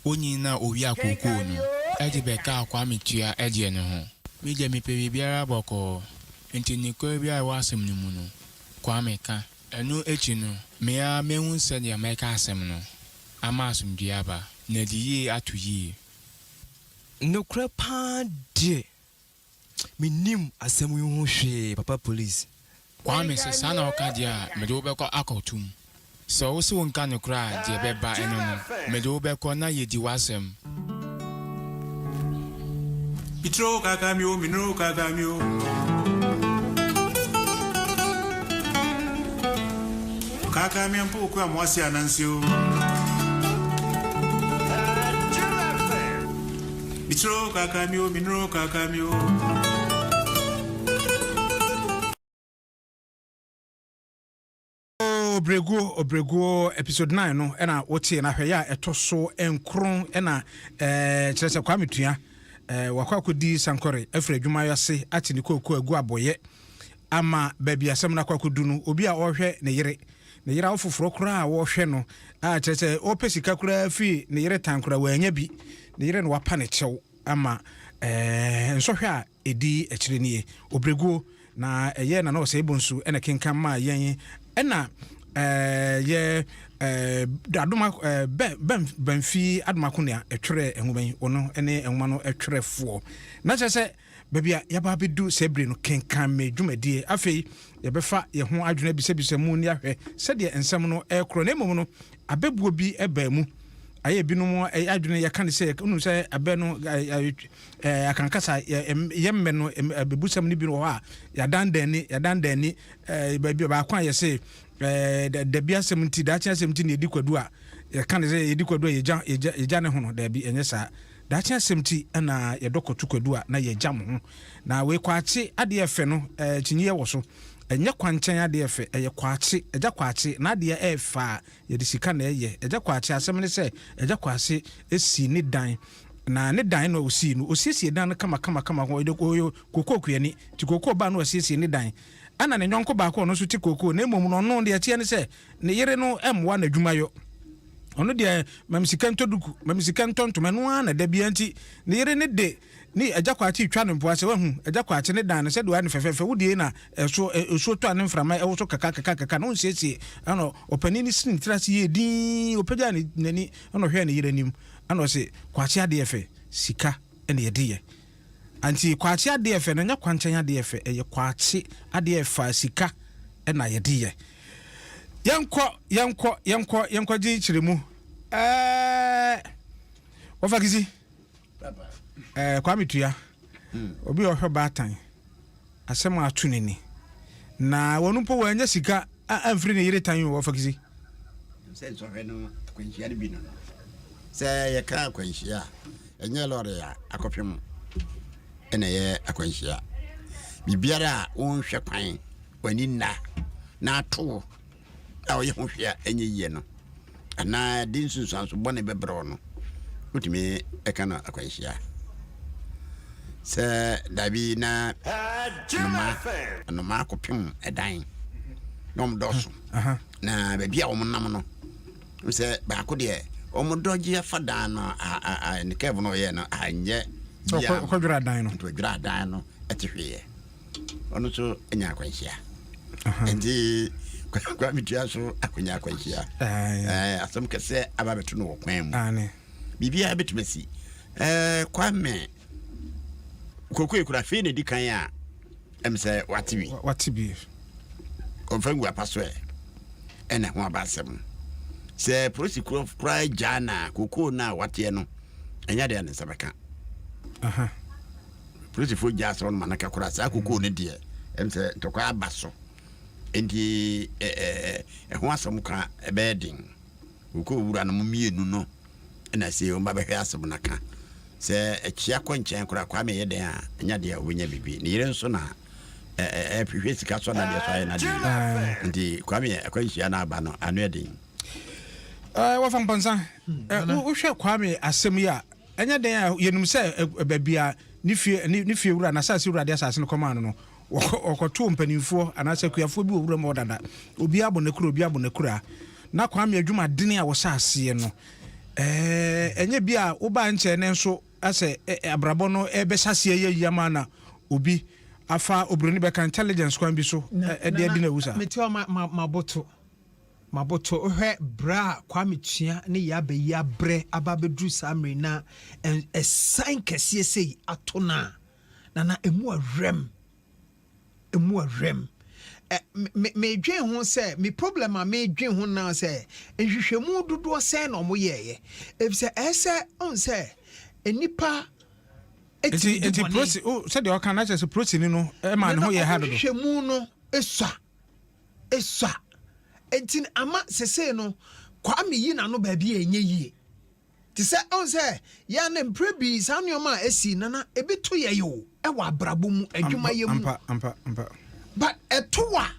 onyin na owiaa kookoo no de bɛkaa Kwame Tua deɛ no ho. Me deɛ mepɛ biribiara bɔkɔɔ, nti nokorɛ biara a ɛwɔ asɛm no mu no, Kwame ka. Ɛno akyi no, me ara mahu sɛdeɛ mɛka asɛm no ama asomdwoeɛ aba, na adi yie ato yie. Nokorɛ pa ara deɛ, Me nim asɛm yi ho hwee papa police. Kwame sɛ saa na wo ka deɛ a mede wo bɛkɔ akɔ to mu sɛ wo se wo nka nokorɛ a deɛ ɛbɛba ɛno no mede wo bɛkɔ na yɛ di w'asɛm. Me tiri o kaka me o me nuru kaka me o kaka me mpo kura mo ase anansi o. Mitro kaka mi o, minro kaka mi o. ɔbrɛguo ɔbrɛguo episode nine no ɛna wotie na hwɛ yɛ a ɛtɔ so nkron ɛna ɛɛ kyerɛ sɛ kwame tua ɛɛ wakɔ akɔdi sankɔre afiri adwuma ase ate ne kooko agu abɔyɛ ama baabi asɛm no akɔ akɔdu no, obi a ɔrehwɛ ne yere, ne yere awo foforɔ koraa a ɔrehwɛ no, a kyerɛ sɛ ɔrepɛ sika koraa firi ne yere tan koraa wanya bi, ne yere na wapa ne kyɛw ama ɛɛ nsɔhwɛ a ɛdi akyire nie, ɔbrɛguo, na ɛyɛ Nana Osei Bonsu na kenkan maa yɛn ɛna ɛɛ yɛ ɛɛ Adoma ɛɛ bɛ bɛn bɛnfi Adoma Konea ɛtwerɛɛ nwoma yi, ɔno ne nwoma no twerɛfoɔ, na kyerɛ sɛ. Baabi a yɛaba abedu saa bere no, kenkan me dwumadie. Afei yɛbɛfa yɛn ho adwene abisabisa mu ne ahwɛ sɛdeɛ nsɛm no rekorɔ. Na mmom no, abɛbuo bi baa mu. Ayɛ ebinom adwene, yɛka no sɛ, wonim sɛ abɛ no, akankasa, yɛn mmɛ no, abɛbusɛm no bi wɔ hɔ a, yɛadandan ani, yɛadandan ani, baabi baako a yɛse, dabi asɛm nti, daakye asɛm nti na yɛdi kwadu a, yɛka no sɛ yɛdi kwadu a yɛgya ne ho no. Daabi, ɛnyɛ saa. Daakye asɛm ti na yɛdɔ kɔto kwadu a na yɛagyam ho. Na wei Kwakye adeɛ ɛfɛ no kyinyeɛ wɔ so. Ɛnyɛ kwankyɛn adeɛ ɛfɛ, ɛyɛ Kwakye, Agya Kwakye, n'adeɛ ɛyɛ fɛ a yɛde sika na ɛyɛ. Agya Kwakye, asɛm ne sɛ Agya Kwakye sii ne dan na ne dan no a ɔsii no, ɔsiesie dan no kama kama kama, ɔyɛ kookoo kuani nti kookoo baa no asiesie ne dan. Ɛna ne nyɔnko baako a ɔno nso te kookoo na mmom no ɔno deɛ ɛteɛ ne sɛ, ne yere no mmoa no adwuma yɔ. Ɔno deɛ mami sika ntɔ duku, mami sika ntɔ ntoma, ɛno ara na da bia nti ne yere ne de ne agya kwakye twa no mpoa sɛ wahu agya kwakye ne dan no sɛdeɛ ɔyɛ no fɛfɛɛfɛ wodie na ɛso ɛsuo tɔ a ne mframa ɛwɔ so kaka kaka kaka na ɔnsiesie ɛna ɔpanin ne sini ne tiri ase yɛ din ɔpagya n'ani ɛna ɔhwɛ ne yere anim ɛna ɔse kwakye adeɛ fɛ sika ɛna yɛde yɛ Anti kwakye adeɛ ɛfɛ no ɛnyɛ kwankyɛn adeɛ ɛfɛ ɛyɛ kwakye adeɛ ɛfa sika ɛna yɛde yɛ yɛnkɔ yɛnkɔ yɛnkɔ yɛnkɔ gye kyerɛ mu ɛɛ wɔfa kisi ɛɛ kwame tua obi ɔhwɛ baatan Asɛm a ato n'ani. Na wɔn mpo wɔannya sika amfiri ne yere tan wɔ Ɔfakisi. Ɛnam sɛ nsɔhwɛ no akwanhyia no bi no no, sɛ yɛka akwanhyia a, ɛnyɛ lɔre a akɔhwɛ mu na ɛyɛ akwanhyia. Biribiara a wonhwɛ kwan, w'ani nna na ato wo a ɔyɛ ho hwee a ɛnyɛ yie no anaa ɛde nsunsuanso bɔne bɛbrɛ wo no wotumi ɛka no akwanhyia sɛ dabi na noma noma akɔpem ɛdan na wɔn dɔɔso na baabi a wɔn nam no sɛ baako deɛ wɔn dɔgye afa dan no ne kɛɛbo no ɔyɛ no anyɛ bia no nti ɔdwira dan no ɛte hweeɛ ɔno nso nya akwanhyia nti kwa metua nso akwanya akwanhyia asɛm kɛsɛ aba bɛto no wɔ kwan mu biribiaa bɛtumi asi kwa me kokoe kora afei na ɛdi kan a ɛm sɛ wate bi wate bi ɔmfa ngu apa so ɛ ɛna ho aba asɛm sɛ polisi koraa gyaa na kokoo no a wateɛ no ɛnyɛ deɛ ne nsa bɛka Polisifo gyaa asraw no ma no kɛkora. Saa kokoo no deɛ, ɛm sɛ ntɔkwa aba so, enti ɛho asɛm ka ɛbɛyɛ den. Kokoo wuranom mmienu no na ɛsɛ wɔn ba bɛhwɛ asɛm no aka. Sɛ ɛkyea kɔ nkyɛn koraa, Kwame yɛ dɛn a, ɛnyɛ adeɛ a ɔbɛnya biribi. Ne yere nso na ɛhwehwɛ sika so anadeɛ so ayɛ n'adeɛ yi. Nti Kwame yɛ akwanhyia no aba no, ano yɛ den. Wɔfa mpɔnsa. Wohwɛ Kwame asɛm yi a, Ɛnyɛ den a yenim sɛ baabi a ne fie ne fiewura, n'asase wura de asase no kɔmaa no no, wɔkɔtoo mpanimfoɔ anaasɛ akuafoɔ bi wɔ wuram hɔ dada. Obiara bɔ n'akura, obiara bɔ n'akura. Na Kwame adwumaden a wɔhyɛ aseɛ no, ɛnyɛ bi a wobaa nkyɛɛ nnɛ nso sɛ abrabɔ no rebɛhyɛ aseɛ ayɛ yie ama na obi afa oburoni bɛka intelligence kwan bi so de adi no awu saa. Metua m'aboto. Maboto hwɛ bere a Kwame Tua ne Yaa Bayi abrɛ aba abeduru saa mmere yi na asiane kɛseɛ sei ato no a, na na ɛmu awerɛm. Ɛmu awerɛm. Ɛ, me, me, medwen ho sɛ, me problem a medwen ho na sɛ, nhwehwɛmu dodoɔ sɛn na ɔmo yɛɛyɛ. Efisɛ ɛsɛ, ɔn sɛ, nnipa ɛtumi di bɔne. Nti, nti prosi, sɛdeɛ ɔka na kyerɛ sɛ prosini no ɛma ne ho yɛ ha dodo. Nana ɔmo nhwehwɛmu no esua. Esua. Enti no ama sesei no Kwame yi n'ano baabi a ɛnyɛ yie. Te sɛ ɔn sɛ yɛ a na mprɛ bii saa nnoɔma a ɛsii no na ebi to yɛ yɛ o ɛwɔ abrabɔ mu, adwuma yɛ mu. Ampa, ampa, ampa. But ɛto a,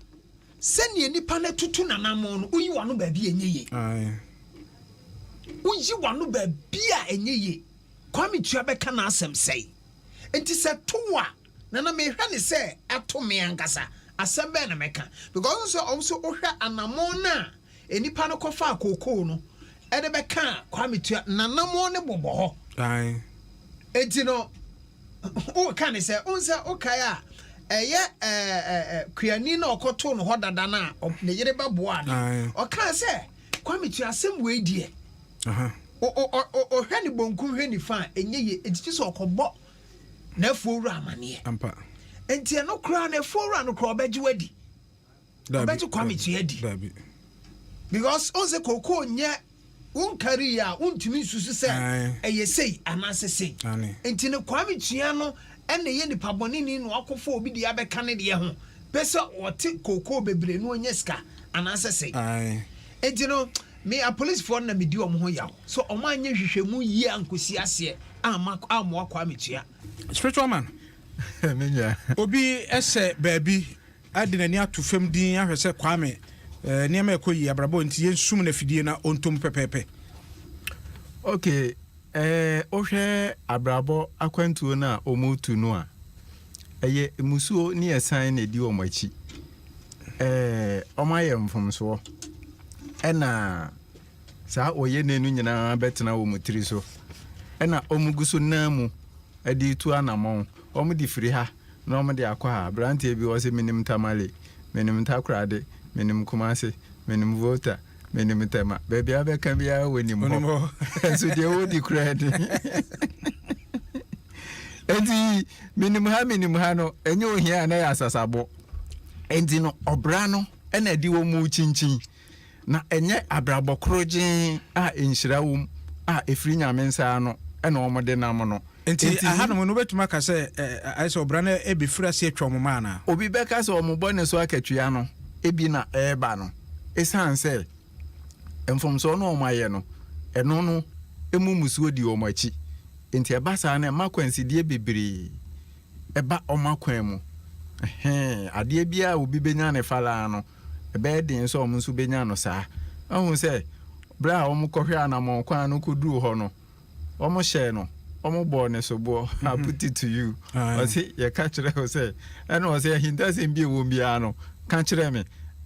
sɛdeɛ nipa no atutu n'anamɔn no, woyi w'ano baabi a ɛnyɛ yie. Aye. Woyi w'ano baabi a ɛnyɛ yie. Kwame Tua bɛka n'asɛm sɛi. Enti sɛ to wo a. Na na mehwɛ no sɛ ato me ankasa. Asɛm bɛn na mɛka? Because wohu sɛ ɔwo nso wohwɛ anamɔn no a nnipa no kɔfaa kookoo no de bɛkaa Kwame Tua, n'anamɔn no bobɔ hɔ. Ae. Enti no, woreka ne sɛ, wohu sɛ wokae a, ɛyɛ ɛɛ Kuani no a ɔkɔtoo no hɔ dada no a ne yere bɛboaa no. Ae. Ɔkaa sɛ, Kwame Tua, asɛm wei deɛ, Aha. o, o, o, o, hwɛ ne bonkum, hwɛ nifa a, ɛnyɛ yie. Enti gye sɛ ɔkɔbɔ n'afuowura amaneɛ ampa nti ɛno koraa no afuowura no koraa ɔbɛgye wadi ɔbɛgye kwame tua adi because ɔn sɛ kookoo nyɛ wonkari a wontumi nsusu sɛ ɛyɛ sei anaasɛ sei nti no kwame tua no ɛna yɛ nipa bɔne ni na wakɔfo obi deɛ abɛka ne deɛ ho pɛ sɛ ɔte kookoo bebree no ɔnyɛ sika anaasɛ sei nti no Me apolisifoɔ no na medi wɔn ho yaw sɛ wɔn anyɛ nhwehwɛmu yie ankosi aseɛ amma ammoa Kwame Tua. Spiritual man obi sɛ baabi de n'ani ato fam din ahwɛ sɛ Kwame nneɛma ɛkɔ yie abrabɔ nti yɛnsum no afidie na ɔntɔ mu pɛpɛɛpɛ. Ok eh, wohwɛ abrabɔ akwantuo no a wɔretu no a, ɛyɛ mmusuo ne asiane na ɛdi wɔn akyi. eh, ɔma yɛ mfomsoɔ, ɛna saa ɔyɛ ne no nyinaa bɛtena wɔn tiri so, ɛna wɔn gu so nan mu de retu anamɔn, wɔn de firi ha na wɔn de akɔ ha. Aberanteɛ bi wɔ sɛ menim Tamale, menim Takorade, menim Kumase, menim Volta, menim Tema, baabi a bɛka biara wɔnim hɔ, nso deɛ wɔdi koraa ni. Enti menim ha menim ha no, ɛnyɛ ohia a na yɛ asasabɔ. Enti no, ɔbra no na ɛde wɔn rekyinkyin, na ɛnyɛ abrabɔ korogyen a nhyira wom a ɛfiri Nyame nsa ano na wɔde nam no. Enti ahanom no, wobɛtumi aka sɛ, ayɛ sɛ ɔbra no rebɛfiri ase atwa wɔn mmaa anaa? Obi bɛka sɛ wɔn bɔne so akatua no bi na ɛreba no, ɛsiane sɛ mfomsoɔ no a wɔayɛ no, ɛno no mu mmusuo di wɔn akyi. Enti ɛba saa no, ɛma akwansideɛ bebree. ɛba wɔn akwan mu. Ɛhɛn, adeɛ biara a obi bɛnya no fa ara no, ɛbɛyɛ den sɛ wɔn nso bɛnya no saa. Woahu sɛ, berɛ a wɔkɔhwɛɛ anammɔn kwan no kɔduruu hɔ no, wɔhyɛɛ no, wɔbɔɔ no soboɔ, I put it to you, ɔse, yɛka kyerɛɛ wo sɛ, ɛna ɔse, ahintasɛm bi a ɛwom biara no, ka kyerɛ me.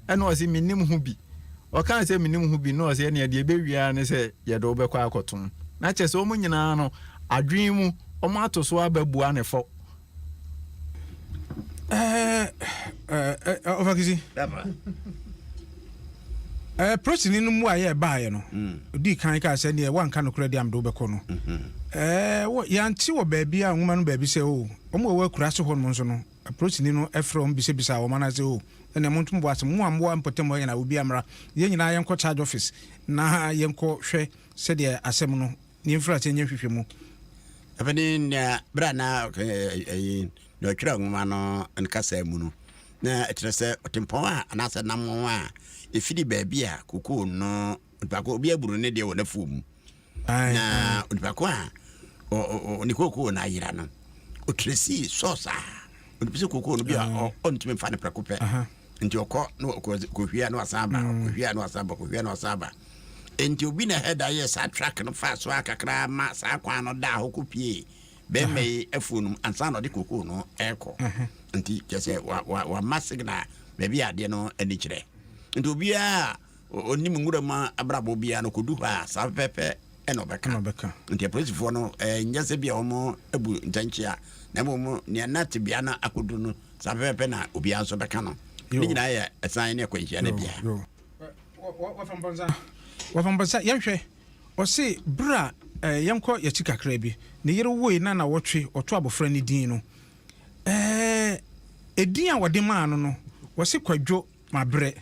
Ɛna ɔse, mennim ho bi. Ɔkaa sɛ, mennim ho bi no, na ɔse, ɛnneɛ deɛ ɛbɛwie ara ne sɛ, yɛde wo bɛkɔ akɔtom. Na kyerɛ sɛ, wɔn nyinaa no, Adwene mu, wɔato so aba bua no fɔ. Ɔfakisi, polisini no mmuaeɛ a ɛbaeɛ no, ɔdii kan kaa sɛ, neɛ woanka nokorɛ deɛ a mede wobɛkɔ no. Yɛante wɔ baabi a nwoma no baabi sɛ, o, wɔn a wɔwɔ akuraase hɔnom nso no, polisini no frɛ wɔn bisabisaa wɔn anaasɛ, o, ɛnneɛ monto mo bo ase, mo a mowɔ mpɔtam hɔ nyinaa, obiara mmra, yɛn nyinaa yɛnkɔ charge office na yɛnkɔhwɛ sɛdeɛ asɛm no Ne mfiri aseɛ nyɛ hwehwɛ mu. Afei ne nea berɛ a na ɛyi na ɔtwerɛ nwoma no ne kasa mu no na ɛkyerɛ sɛ ɔtempɔn a anaasɛ nam ho a ɛfiri baabi a kokoo no onipa ko obi aburu ne deɛ wɔ n'afuo mu na onipa ko a ne kokoo no ayera no ɔtwerɛ sii sɔɔsaa ɔde sɛ kookoo no bi a ɔntumi mfa no prɛko pɛ nti ɔkɔ na ɔkɔhwia na wasan ba mm. ɔkɔhwia na wasan ba ɔkɔhwia na wasan ba nti obi na ɛhɛ da yɛ saa track no fa so a kakra ma saa kwan no da hɔ kɔ pie bɛrima yi afuo no ansa na ɔde kookoo no ɛrekɔ nti kyɛ sɛ wama signal baabi adeɛ no ani kyerɛ nti obiara Ɔnim nwura mu abrabɔ biara na ɔkɔdu hɔ a, saa fɛfɛɛfɛ na ɔbɛka. Nti apolisifoɔ no, ɛnyɛ sɛ bia wɔbu ntɛnkyea, na mmom nea na tebea no akɔduru no, saa fɛfɛɛfɛ na obiara nso bɛka no. Ne nyinaa yɛ ɛsan ne akwanhyia no bea. Wɔfa mpɔnsa. Yɛnhwɛ, ɔse berɛ a, yɛnkɔ yɛakyi kakraa bi, ne yere woe na nnawɔtwe, ɔtoo abɔfra no din no, ɛɛ, edin a wɔde maa no no, wɔse Kwadwo. Mabrɛ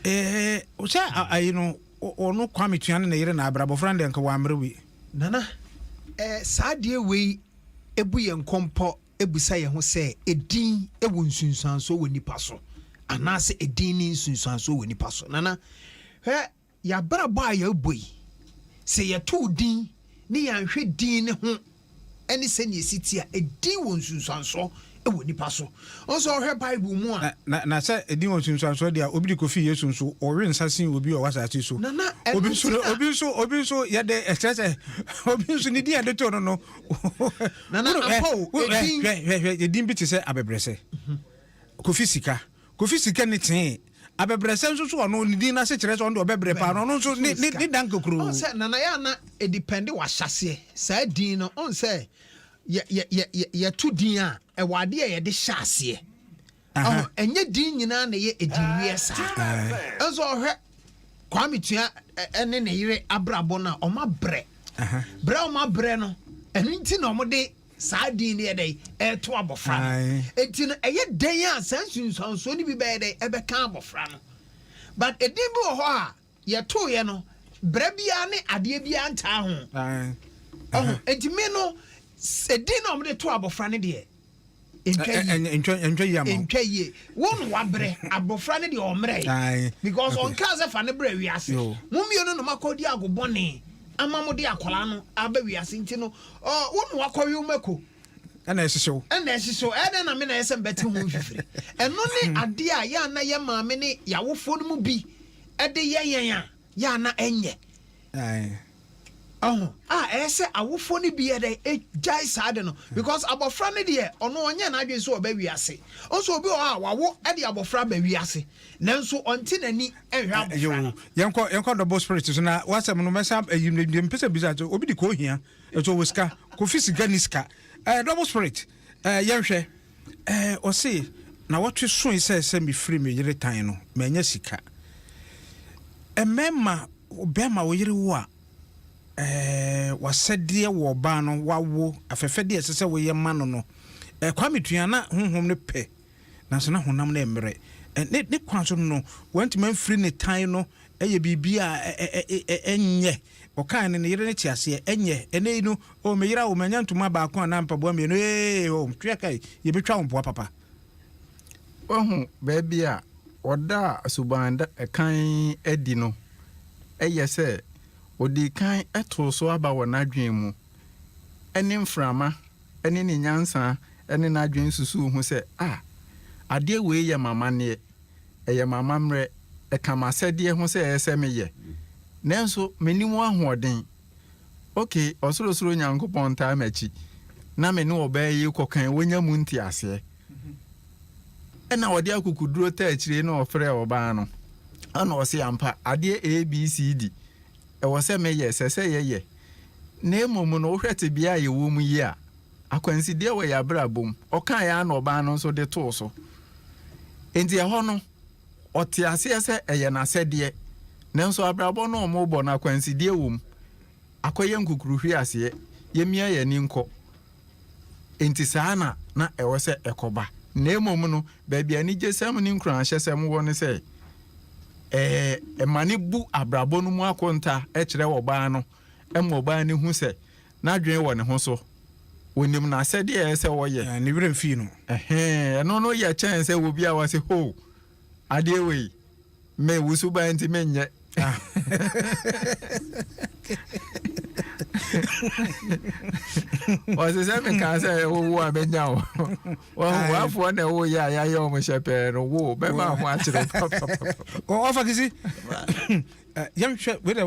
eeh wo sɛ ayi no ɔno Kwame tua ne ne yere na abrɛ abɔfra no deɛ nka wammrɛ wei. Nana eh saa adeɛ wei bu yɛn kɔmpɔ bisa yɛn ho sɛ edin wɔ nsunsuansoɔ wɔ nipa so anaasɛ edin nni nsunsuansoɔ wɔ nipa so Nana hwɛ Yɛn abrabɔ a yɛrebɔ yi, sɛ yɛtoo din ne yɛanhwɛ din no ho ne sɛnea esi te a, edin wɔ nsunsuansoɔ wɔ nnipa so. Wohu sɛ wohwɛ Bible mu a. Na, na sɛ edin wɔ nsunsuansoɔ deɛ a, obi de kɔfii Yesu nso, ɔwe nsa sii obi a ɔwɔ asase so. Nana, ɛno Obi nso, nti na. obi nso, obi nso, yɛde, ɛkyerɛ sɛ, obi nso, ne din a yɛde too no no, Nana, wohunu, ɛ, ampa o, wo, ɛ, edin. hwɛ, hwɛ, hwɛ, edin bi te sɛ abɛbrɛsɛ. Kofi Sika, Kofi Sika nni tee. Abɛbrɛsɛ nso so ɔno ne din no ase kyerɛ sɛ ɔno deɛ ɔbɛbrɛ paa na ɔno nso ne ne ne da nkokuro. Ɔn sɛ Nana yɛ a na edepɛnde w'ahyɛaseɛ saa din no ɔn sɛ yɛ yɛ yɛ yɛ yɛto din a ɛwɔ adeɛ a yɛde hyɛ aseɛ ɔho ɛnyɛ din nyinaa na ɛyɛ edin wiɛ saa ɛnso ɔhwɛ Kwame Tua ɛne ne yere abrabɔ no a ɔma brɛ brɛ ɔma brɛ no ɛno nti na ɔmo de saa din no yɛ dɛn ɛreto abɔfra no nti no ɛyɛ dɛn a saa nsunsuansoɔ no bi bɛyɛ dɛn ɛbɛka abɔfra no but ɛdin bi wɔ hɔ a yɛtoeɛ no berɛ biara ne adeɛ biara ntaa ho ɔho nti me no ɛdin na ɔmde to abɔfra no deɛ ntwa yie wo no wabrɛ abɔfra no deɛ ɔmmerɛ because ɔnkaa sɛ fa no brɛ wiase mo mmienu no makɔdi agobɔne ama mode akwadaa no aba wiase nti no Ɔ, wo na wakɔwe mako. Ɛna ɛhyehye wo. Ɛna ɛhyehye wo. Ɛyɛ dɛn na me na ɛyɛ sɛ mbɛte ho mfifiri? Ɛno ne adeɛ a yɛ a na yɛ maame ne yɛ awofoɔ no mu bi de yɛ yɛn a, yɛ a na ɛnyɛ. Ae. Ɔho, a ɛyɛ sɛ awofoɔ no bi yɛ dɛn? Ɛgyae saa ade no. Because abɔfra no deɛ, ɔno ɔnyɛɛ n'adwene sɛ ɔba wiase. Nso obi wɔ hɔ a, wawo de abɔfra aba wiase. nanso ɔnte n'ani nhwɛ abofra no. yɛnkɔ yɛnkɔ double spirit so na wasɛm no mɛsa ayi no deɛ mpɛ sɛ bisa so obi de kɔ ohia ɛso wɔ sika kofi sika ni sika ɛɛ double spirit ɛɛ yɛnhwɛ ɛɛ ɔse na wɔtwe soe sɛ sɛ mefiri me yere tan no manya sika mmarima bɛrima wo yere wo a ɛɛ wasɛdeɛ wɔ ɔbaa no wawo afɛfɛdeɛ ɛsɛ sɛ woyɛ ma no no ɛɛ kwame tua na honhom no pɛ nanso na honam no remmere. Ne ne kwan so no, wantumi amfiri ne tan no yɛ biribi a ɛnyɛ. Ɔkae no, ne yere no te aseɛ, Ɛnyɛ, ɛnnɛ yi no, oh, meyera wo, manya ntoma baako anaa mpaboa mmienu, ee, oh, twe aka yi, yɛbɛtwa wo mpoa papa. Woahu baabi a ɔdaa suban da kann adi no? Ɛyɛ sɛ ɔdii kan too so aba wɔ n'adwene mu, ɛne mframa ne ne nyansa ne n'adwene susuw ho sɛ, A! Adeɛ wei yɛ m'amanneɛ, ɛyɛ m'amammerɛ, ɛka m'asɛdeɛ ho sɛ ɛsɛ meyɛ. Nanso menni mu ahoɔden. Ok, Ɔsorosoro Nyankopɔn ntaa m'akyi, na me ne ɔbaa yi rekɔ kan wanya mu nteaseɛ. Ɛnna ɔde akokoduro taa akyire na ɔfrɛɛ ɔbaa no, ɛnna ɔse, Ampa, adeɛ A, B, C, D, ɛwɔ sɛ meyɛ, ɛsɛ sɛ yɛyɛ. Na mmom no, wohwɛ tebea a yɛwɔ mu yi a, akwansideɛ wɔ yɛn abrabɔ mu. Ɔkaeɛ ara na ɔbaa no nso de too so. Enti ɛhɔ no, ɔte aseɛ sɛ ɛyɛ n'asɛdeɛ. Nanso abrabɔ no a wɔrebɔ no, akwansideɛ wɔ mu. Akɔyɛ nkukuruhweaseɛ. Yɛmmia yɛn ani nkɔ. Enti saa na na ɛwɔ sɛ ɛkɔba. Na mmom no, baabi a anigyesɛm ne nkuranhyɛsɛm wɔ ne sɛ, ɛma no bu abrabɔ no mu akonta kyerɛ ɔbaa no ma ɔbaa no hu sɛ n'adwene wɔ ne ho so, onim n'asɛdeɛ a ɛsɛ sɛ ɔyɛ. Ne werɛ mfii no. Ɛhɛn, ɛno no yɛ kyɛn sɛ obi a wase, Ho! Adeɛ wei! Me wo suban nti me nyɛ. Ɔsɛ sɛ me kan sɛ ɛwo wo a menya wo. Wɔn wafoɔ na ɛwo yɛ a yɛayɛ wɔn hyɛ pɛɛ no wo bɛma ho akyerɛ papa. Ɔfa kisi yɛnhwɛ wei dɛ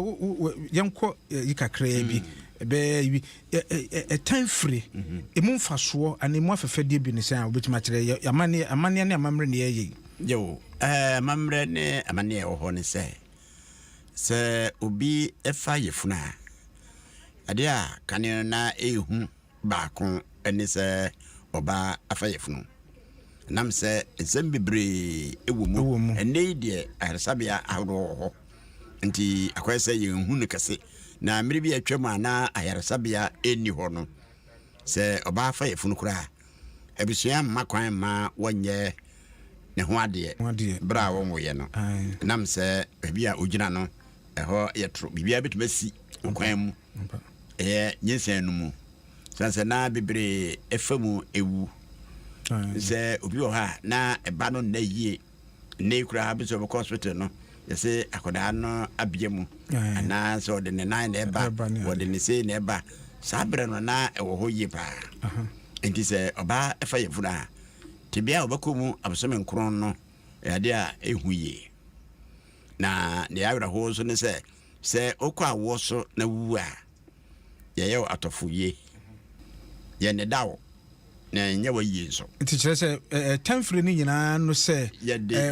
yɛnkɔ yi kakraa bi bɛɛ yi Ɛtan firi. Emu mfasoɔ anaa emu afɛfɛdeɛ bi ne sɛn a wobɛtumi akyerɛ yɛ amanneɛ amanneɛ ne amammerɛ ne yɛyɛ yi? Yɛwo amammerɛ ne amanneɛ ɛwɔ hɔ ne sɛ, sɛ obi fa yafunu a, adeɛ a kane no na ɛhu baako ne sɛ ɔba afa yafunu. Nam sɛ nsɛm bebree ɛwɔ mu. Ɛwɔ mu. Ɛnɛ yi deɛ ayaresabea ahodoɔ wɔ hɔ. Enti akɔyɛ sɛ yɛnhu no kɛse. Na mmere bi a atwam a na ayaresabea nni hɔ no, sɛ ɔbaa fa yafunu koraa a, abusua mma kwan mma wɔnyɛ ne ho adeɛ bere a wɔnwoeɛ no. Ɛnam sɛ baabi a ɔgyina no, ɛhɔ yɛ toro, biribiara bɛtumi asi wɔ kwan mu. Ɛyɛ nyinsɛn no mu. Sane sɛ na bebree fa mu wu. Sɛ obi wɔ hɔ a, na ɛba no nna yie. Nnɛ yi koraa bi sɛ ɔbɛkɔ hospital no yɛsɛ akwadaa no abia mu anaa sɛ ɔde ne nan na ɛba ɔde ne sei na ɛba saa berɛ no na ɛwɔ hɔ yie paa nti sɛ ɔbaa ɛfa yɛ funu a tebea a ɔbɛkɔ mu abosome nkron no ɛyɛ a ɛhu yie na deɛ awerɛhoɔ nso ne sɛ sɛ wokɔ awoɔ so na wuwu a yɛyɛ wo atɔfo ye. Yɛ ne da wo, na yɛnyɛ wo ayie nso. Nti kyerɛ sɛ ɛtɛnfiri no nyinaa no sɛ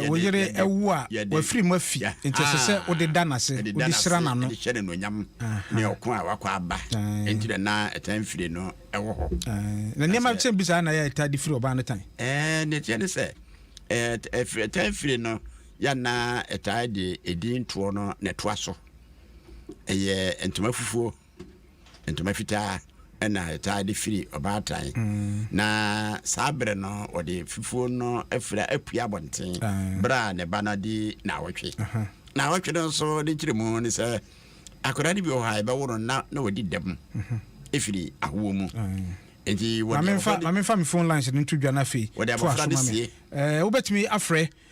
wo yere awu a wafiri mu afi nti ɛsɛ sɛ wode da no ase, wode hyira n'ano. Ɛde hyɛ no anuonyam ne ɔko a wakɔ aba nti na na ɛtɛnfiri no wɔ hɔ. Na nneɛma kyɛn bi saa na yɛ ɛtaa de firi ɔbaa no tan. Ɛɛ ne teɛ ne sɛ ɛtɛnfiri no yɛ na ɛtaa de edin toɔ no na ɛtoa so. ɛyɛ ntoma fufuo ntoma fitaa ɛna ɛtaa de firi ɔbaatan mm. na saa berɛ no wɔde fufuo no afira apue abɔnten berɛ a ne ba no de naawɔtwe naawɔtwe no nso ne nkyerɛ mu ne sɛ akwadaa no bi wɔ hɔ a ɛbɛwo no na na wɔdi dɛm mhm. ɛfiri ahoɔ mu nti wɔde maame nfa me phone lines no nto dwa no afei to aso ma me eh, wobɛtumi afrɛ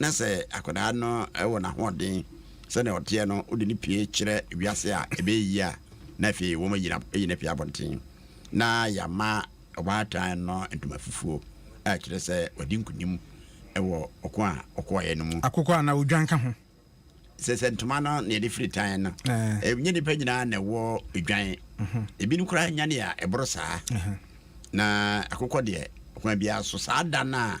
na sɛ akwadaa no wɔ n'ahoɔden sɛdeɛ ɔteɛ no wode no pie kyerɛ wiase a ɛbɛyɛ yie a na afei wɔn ayi no afiri abɔnten na yɛama ɔbaatan no ntoma fufuo a ɛkyerɛ sɛ wadi nkonim wɔ ɔko a ɔkɔɔeɛ no mu. Akokɔ anaa odwan ka ho. Sɛ sɛ ntoma no na yɛde firi tan no ɛnyɛ nnipa nyinaa na ɛwɔ odwan mhm. ebinom koraa nya ne a ɛboro saa na akokɔ deɛ ɔkwan biara so saa da no a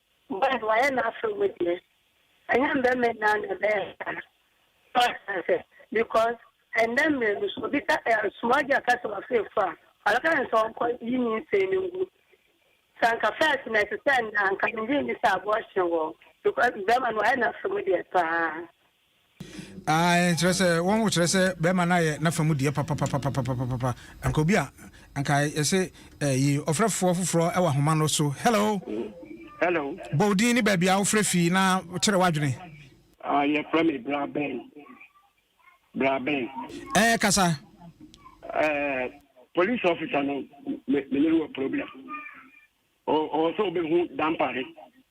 Why wayɛ n'afe mu deɛ ɛnyɛ mmarima nyinaa na ɛbɛyɛ saa so ate aseɛ because ɛnnɛ mmerɛ mu sɛ obi ka ɛɛ small girl ka sɛ wafa afuru a ɔbɛka no sɛ ɔnkɔ yi nyinsɛn no ngu sɛ anka first no ɛte sɛ ɛnnɛ a anka mengye nni sɛ abortion wɔ hɔ because barima no wayɛ n'afe mu deɛ paa. Aane, kyerɛ sɛ, wɔn ho kyerɛ sɛ bɛɛma no ayɛ n'afa mu deɛ papapapapapapapa. Anka obi a, anka yɛse ɛyi ɔfrɛfoɔ foforɔ wɔ ahoma no so. Hello! Hello! Bɔ wo din ne baabi a wofrɛ fi na kyerɛ w'adwene. Ah, yɛfrɛ me Bra Ben. Bra Ben. Ɛɛ, kasa. Ɛɛ, police officer no, me ne no wɔ problem. Ɔwɔ sɛ ɔbɛhu dampare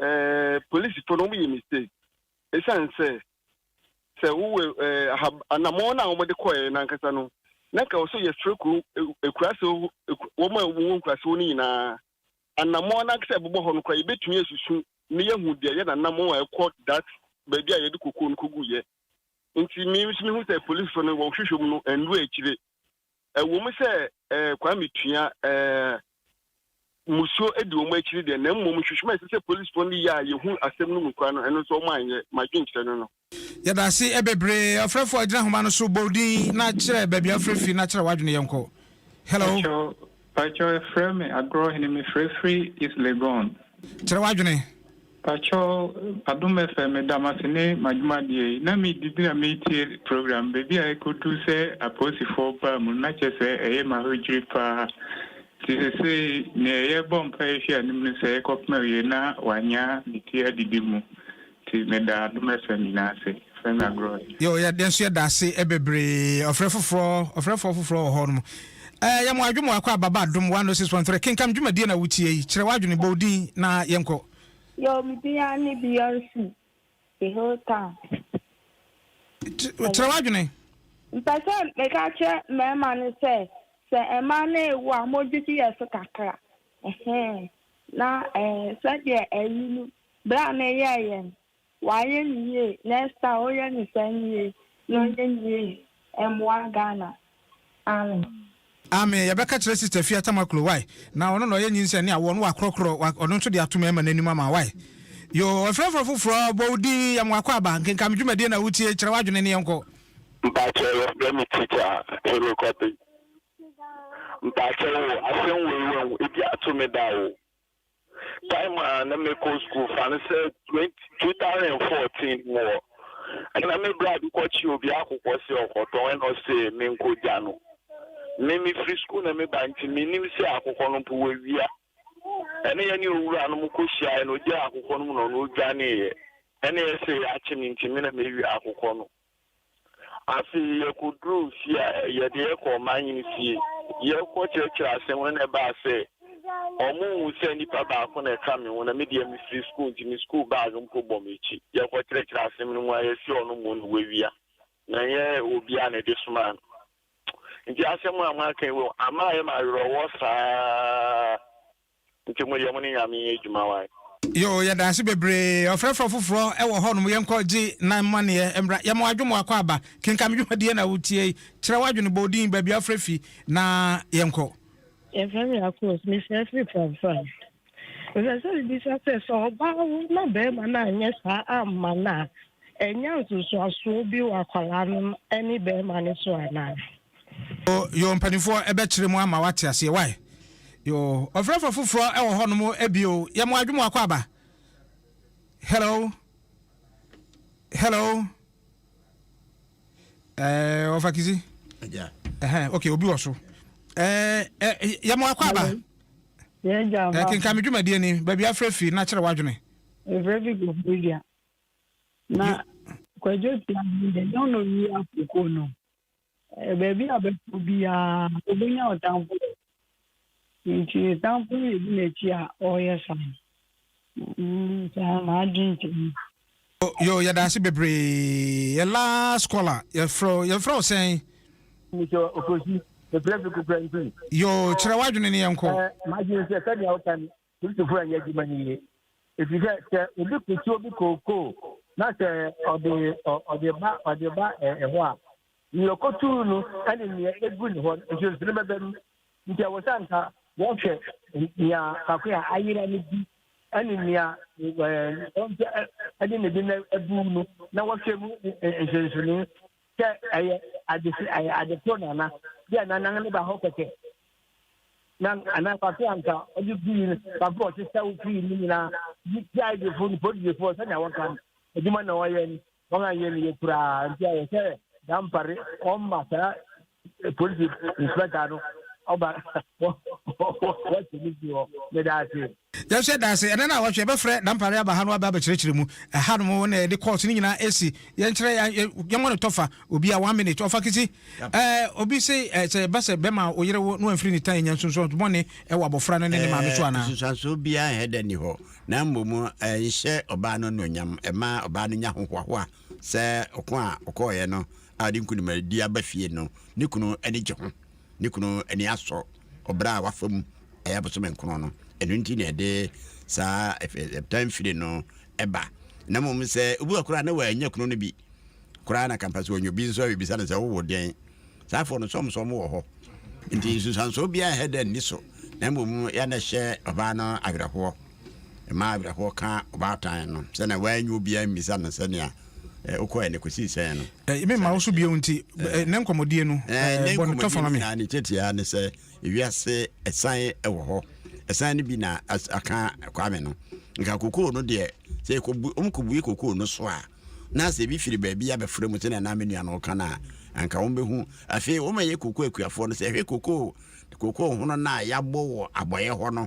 Ɛɛ polisifo no wɔyɛ mistake esiane sɛ sɛ wowɔ ɛɛ aha anamɔn no a wɔde kɔɛ nankasa no na nka wɔsɔ yɛfrɛ kuro ekuraase wɔn a wɔwɔ nkuraase hɔ no nyinaa anamɔn nankasa ɛbobɔ hɔ no kora yɛbɛtumi asusu ne yɛhu deɛ yɛ nanamɔn a ɛkɔ dat baabi a yɛde kokuo no kogu yɛ nti me nso mehu sɛ polisifo no wɔhwehwɛ mu no ɛnuro akyire Ɛwom sɛ eh, Kwame tua eh, mmusuo di wɔn akyiri deɛ, na mmom nhwehwɛmu a ɛsɛ sɛ polisfoɔ no yɛ a yɛhu asɛm no mu kura no, ɛno nso wɔn anyɛ. M'adwenkyerɛ no no. Yɛda ase eh, bebree. Ɔfrɛfoɔ, gyina nhoma no so, bɔ wo din na kyerɛ baabi a wofrɛ firi na kyerɛ w'adwene. Yɛnkɔ. Hello. Pakyɛw, Pakyɛw yɛfrɛ me agorɔ hene me frɛ firi east Legon. Kyerɛ w'adwene. Pakyɛw adom fm meda mo ase ne mo adwuma deɛ yi na me didi na me tie program baabi a ɛkɔ duru sɛ apolisifoɔ baa mu no na kyɛ sɛ ɛyɛ ma ho dwiri paa nti sesei neɛ yɛbɔ mpaeɛ hwɛ anim no sɛ yɛkɔ pem awie na wanya ne ti adidi mu Ti me da adom fm nyinaa ase frɛ me agorɔe. Yoo yɛ deɛ nso yɛ daase bebree ɔfrɛ foforɔ ɔfrɛ foɔ foforɔ wɔ hɔ nom ɛɛ yɛ mo adwo mo akɔ ababa adom 106.3 kenkam dwumadie na wotie yi kyerɛ w'adwene bɔ odin na yɛn kɔ. Yoo me din ara ne Beyonce the whole town. Kyerɛ w'adwene. Mpɛ sɛ me ka kyerɛ mmarima no sɛ sɛ mmaa no rewo a wɔn dwedwe yɛ so kakra ɛhɛɛ na ɛɛ sɛdeɛ ɛyi no Bere a na yɛɛ yɛn, wayɛ no yie, next time oyɛ no saa nwie na ɔnyɛ nwie mmoa Ghana. Amen. Amen yɛbɛka kyerɛ sister fia tamaklo wai na ɔno na ɔyɛ nyinsɛn ne awoɔ no wakorɔkorɔ ɔno nso de ato mɛɛma no anim ama wai yoo ɛfrɛfrɛ foforɔ bɔ wo din yɛ mo akɔ aba nkenka me dwumadie na wotie kyerɛ w'adwene ne yɛnkɔ. Mpakyɛw yɛfrɛ me teacher Hero Kobe mpakyɛw o asɛm wei wahu ebi ato me da o. Time a na mekɔ skuul fa no sɛ 2014 mu hɔ, nna me bra bi kɔkye obi akokɔ sɛ ɔkɔtɔn nna ɔse menkɔgya no. Me mefiri skuul na meba nti mennim sɛ akokɔ no mpo wawia. Nna yɛne owura no kɔhyiaeɛ no ɔgyaa akokɔ no mu na ɔno ɔdwaneeɛ. Nna yɛse yɛakye me nti me na mewia akokɔ no. Afei yɛkɔduruu fie a, yɛde yɛ kɔɔ ɔman hene fie, yɛkɔ kyerɛkyerɛ ase ho na ɛbaa sɛ ɔmo nhu sɛ nipa baako na ɛka me ho na me deɛ me firi sukuu nti me sukuu bag mpo bɔ m'akyi. Yɛkɔ kyerɛkyerɛ asem no mu a yɛse ɔno mmɔ no wawia na ɛnyɛ obia na ɛde somaa no nti asem a moaka yi wom ama ayɛ me awerɛwɔ saa. Nti mo deɛ mo ne nyame yɛ adwuma wai. Yoo yɛdaase bebree ɔfrɛfrɛ foforɔ wɔ hɔ nom yɛnkɔ gye nan mmaneɛ mmra yɛma wadwo mo akɔ aba kenka me dwumadie na wotie yi kyerɛ wadwene bɔ odin baabi afrɛ fi na yɛnkɔ. Yɛfrɛ me Akos, mefrɛ firi Pramfran. Mepɛ sɛ mebisa sɛ, sɛ ɔbaa wo na barima no anyɛ saa amma no a, ɛnya nsosoasoɔ bi wɔ akwadaa no ne barima no so anaa? Oh yoo mpanyinfoɔ ɛbɛkyerɛ mu ama wate aseɛ why yoo ɔfrɛfrɛ foforɔ ɛwɔ hɔ nom ɛbio yɛ mo adwuma akɔ aba hello hello ɛɛ ɔfa kisi ɛhɛn ok obi wɔ so ɛɛ ɛ yɛ mo akɔ aba ɛɛ kenkan mi dwumadie ni baabi afrɛ fi na kyerɛ wadwene. efrɛ fi kɔ fridua na kwadwo ti ahun de nyɛ ɔna wi akoko no. Baabi a ɔbɛkɔ biara ɔbɛnya ɔtamfo wɔ hɔ. Nti ne tamfo no na ɛdi n'akyi a ɔreyɛ saa. Saa m'adwene te no. Yoo yɛda ase bebree yɛ last caller yɛfrɛ wo yɛfrɛ wo sɛn. Mesɛ Okosi, mefrɛ Fiku Prɛntin. Yoo kyerɛ w'adwene ne yɛnkɔ. M'adwene sɛ sɛdeɛ woka no Kristofo a ɛyɛ adwuma no yie. Ɛfiri sɛ sɛ obi kosi obi kookoo na sɛ ɔde ɔde ba ɔde ba ɛhɔ a, nea ɔkotuu no ne nea egu ne hɔ no nsonsono bɛba mu. Nti ɛwɔ sɛ nka wɔhwɛ nea faako a ayera no bi ne nea ɔnkyɛ ne de no abu no na wɔhwɛ mu nsonsono. Sɛ ɛyɛ ade ɛyɛ ade koro na ana bi a nanan ne ba hɔ kɛkɛ na ana fafe anka ɔde gui no fafe ɔte sɛ wofiri no nyinaa yi gyae defo no polisifoɔ sɛnea wɔka no adwuma na wɔyɛ no wɔn a yɛ no yɛ koraa nti ayɛ sɛ dampare ɔmma saa polisi inspector no ɔba wɔte ne bi hɔ ne daa se Yɛhyɛ da sɛ ɛnnɛ na awɔtwe yɛbɛfrɛ Dampare aba ha no aba abɛkyerɛkyerɛ mu. Ɛhanom wo na yɛde course no nyinaa ɛsi. Yɛnkyerɛ yɛn yɛ yɛmmɔ no tɔfa. Obia one minute ɔfa kisi. Ɛɛ obi se ɛɛ sɛ ɛba sɛ bɛma wo yere wo na wamfiri ne tan nya nsunsuanso bɔne ɛwɔ abɔfra no ne ne maame so Ɛɛ anaa? nsunsuanso biara ɛnyɛ dɛ nni hɔ. Na mmom ɛnhyɛ ɔbaa no anuonyam. Ɛma ɔbaa no nya hohoahoa sɛ ɔko a ɔkɔeɛ no a ɔde nkunimadi aba fie no ne kunu ani gye ho. ne kunu ani asɔ ɔbra a wafa mu ɛyɛ abosome nkron no. Ɛno nti na ɛde saa ɛtan firi no ɛba. Na mmom sɛ obi wɔ koraa na wɔanya kunu no bi koraa na kampa sɛ ɔnyɛ bi nso a bɛbisa no sɛ wowo dɛn? Saa afoɔ no sɔmsɔm wɔ hɔ. Nti nsusuansoɔ biara ɛhɛ dɛ nni so na mmom yɛ na ɛhyɛ ɔbaa no awerɛhoɔ. Ɛmaa awerɛhoɔ kaa ɔbaatan no sɛdeɛ wannya obiara ammisa no sɛdeɛ wokɔɛ no kɔsii sɛn no. Memma wo so bio nti, ne nkɔmmɔdie no, bɔ no tɔfa ma me. Ne tiatia ne sɛ, ewiase ɛsan wɔ hɔ. Ɛsan no bi na aka Kwame no. Nka kokoo no deɛ, sɛ wɔkɔbue kokoo no so a, na sɛ ebi firi baabi abɛfra mu sɛdeɛ na me nua no reka no a, anka wɔbɛhu. Afei, wɔn a ɛyɛ kokoo akuafoɔ no sɛ, hwɛ kokoo, kokoo hono no a yɛabɔ wɔ abɔeɛ hɔ no,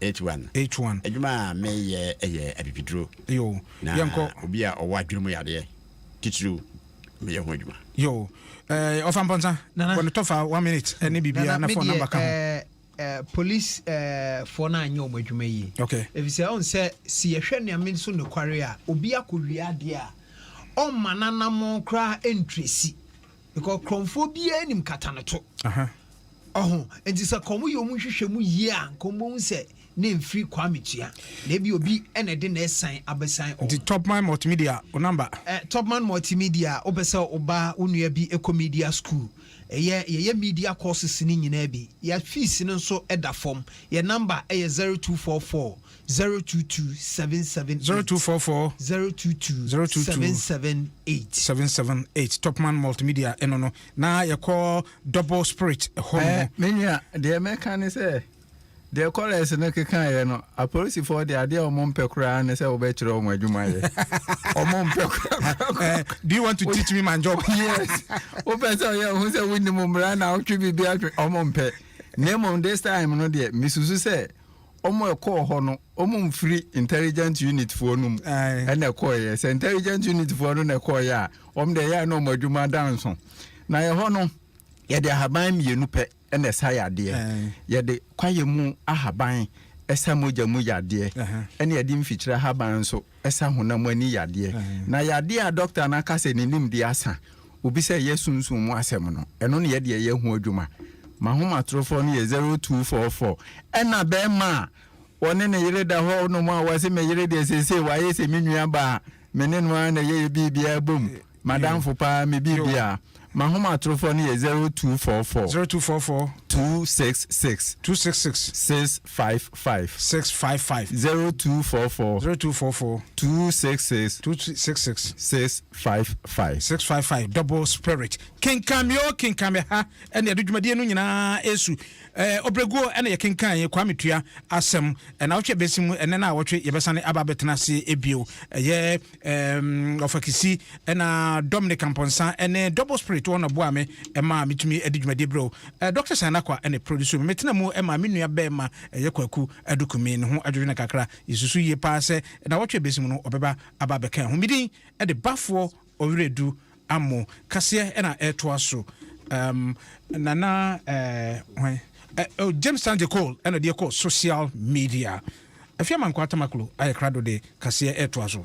H-one. H-one. Adwuma a meyɛ yɛ abibiduro. Yo. Na Yɛnkɔ. obi a ɔwɔ adwene mu yadeɛ titiriw meyɛ ho adwuma. Yo. Eh, ɔfa mpɔnsa. Nana. Bɔ ne tɔfa one minute ɛne biribiara Nana, na me phone deɛ number ka ho. eh, eh, police eh, foɔ no anyɛ wɔn adwuma yie. Okay. Efisɛ ɔn sɛ se yɛhwɛ Nyame so nokware a, obi akɔwie adeɛ a, ɔmma n'anammɔn koraa ntresi. Because krɔmfoɔ biara nim kata no to. Ɔho nti sɛ kɔn yɛ ɔmo nhwehwɛ mu yie a nkɔn bɛhu sɛ ne mfiri Kwame Tua na ebi obi ɛna ɛde na ɛsan abɛsan ɔmo. Nti Topman Multimedia o namba. Ɛ Topman Multimedia wopɛ sɛ ɔba wo nua bi ɛkɔ media school ɛyɛ yɛyɛ media courses ne nyinaa bi yɛ fees no nso ɛda fam yɛ namba ɛyɛ zero two four four Zero two two seven seven eight. Zero two four four. Zero two two. Zero two two. Seven seven eight. Seven seven eight. Topman multimedia ɛno no na yɛkɔ double spirit hɔ no. Eh, menua deɛ mɛka ne sɛ deɛ kɔlɛs no kekaeɛ no apolisifoɔ deɛ adeɛ a wɔn mpɛ koraa ne sɛ wɔbɛkyerɛ wɔn adwuma yɛ wɔn mpɛ koraa eh, do you want to teach me my job yes wopɛ sɛ ɔyɛ ɔho sɛ wonim mmara na wotwe biribi atwe wɔn mpɛ na mmom this time no deɛ mesusu sɛ ɔmo ɛkɔɔ hɔ no ɔmo mfiri intelligent unit foɔ no mu ɛna ɛkɔɔyɛ sɛ intelligent unit foɔ no na ɛkɔɔyɛ a ɔmo deɛ ɛyɛ a na ɔmo adwuma da nso na ɛhɔ no yɛde ahaban mmienu pɛ ɛna ɛsa yadeɛ yɛde kwaeɛ mu ahaban ɛsa mogya mu yadeɛ ɛna yɛde mfikyire ahaban nso ɛsa honam ani yadeɛ, na yadeɛ a dɔkta no aka sɛ ne nimdeɛ asa obi sɛ yɛ sunsum mu asɛm no, ɛno na yɛdeɛ yɛ ho adwuma. M'ahomatorofoɔ no yɛ zero two four four. Ɛna bɛɛma a ɔne ne yere da hɔ nom a ɔse me yere deɛ seesei wayɛ sɛ me nuabaa, me ne no ara na yɛyɛ biribiara bom. M'adamfo paa me biribi a. M'ahomatorofo no yɛ zero two four four. Zero two four four. Two six six. Two six six. Six five five. Six five five. Zero two four four. Zero two four four. Two six six. Two six six. Six five five. Six five five. Double spirit. Kenkan mi o kenkan mi ha ɛna ɛde dwumadie no nyinaa esu ɛɛ ɔbrɛguo ɛna yɛ kenkan yɛ Kwame Tua asɛm ɛna ɔtwe bɛsi mu ɛnɛ na ɔtwe yɛbɛsane aba abɛtena ase ebio ɛyɛ. Ɔfa Kissi, ɛna Dominic Amponsah, ɛne Double Spirit, wɔn na ɔboa me ɛma metumi ɛde dwumadie brɛ o. Doctor Sanakwa ɛna ɛproduce me. Metena mu ɛma me nua bɛɛma ɛyɛ Kwaku Adukumi, ne ho adwodwo no kakra. Yɛsusu yie paa sɛ nnawɔtwe a ɛbɛsi mu no ɔbɛba aba abɛka ɛho. Medin ɛde bafoɔ Ɔwerɛdu Ammo kaseɛ na ɛtoa so um, Nana eh, hwan eh, oh, James Sangye Cole ɛna deɛ kɔ social media. Afia Mankwaa Tamaklo ayɛ krado de kaseɛ ɛtoa so.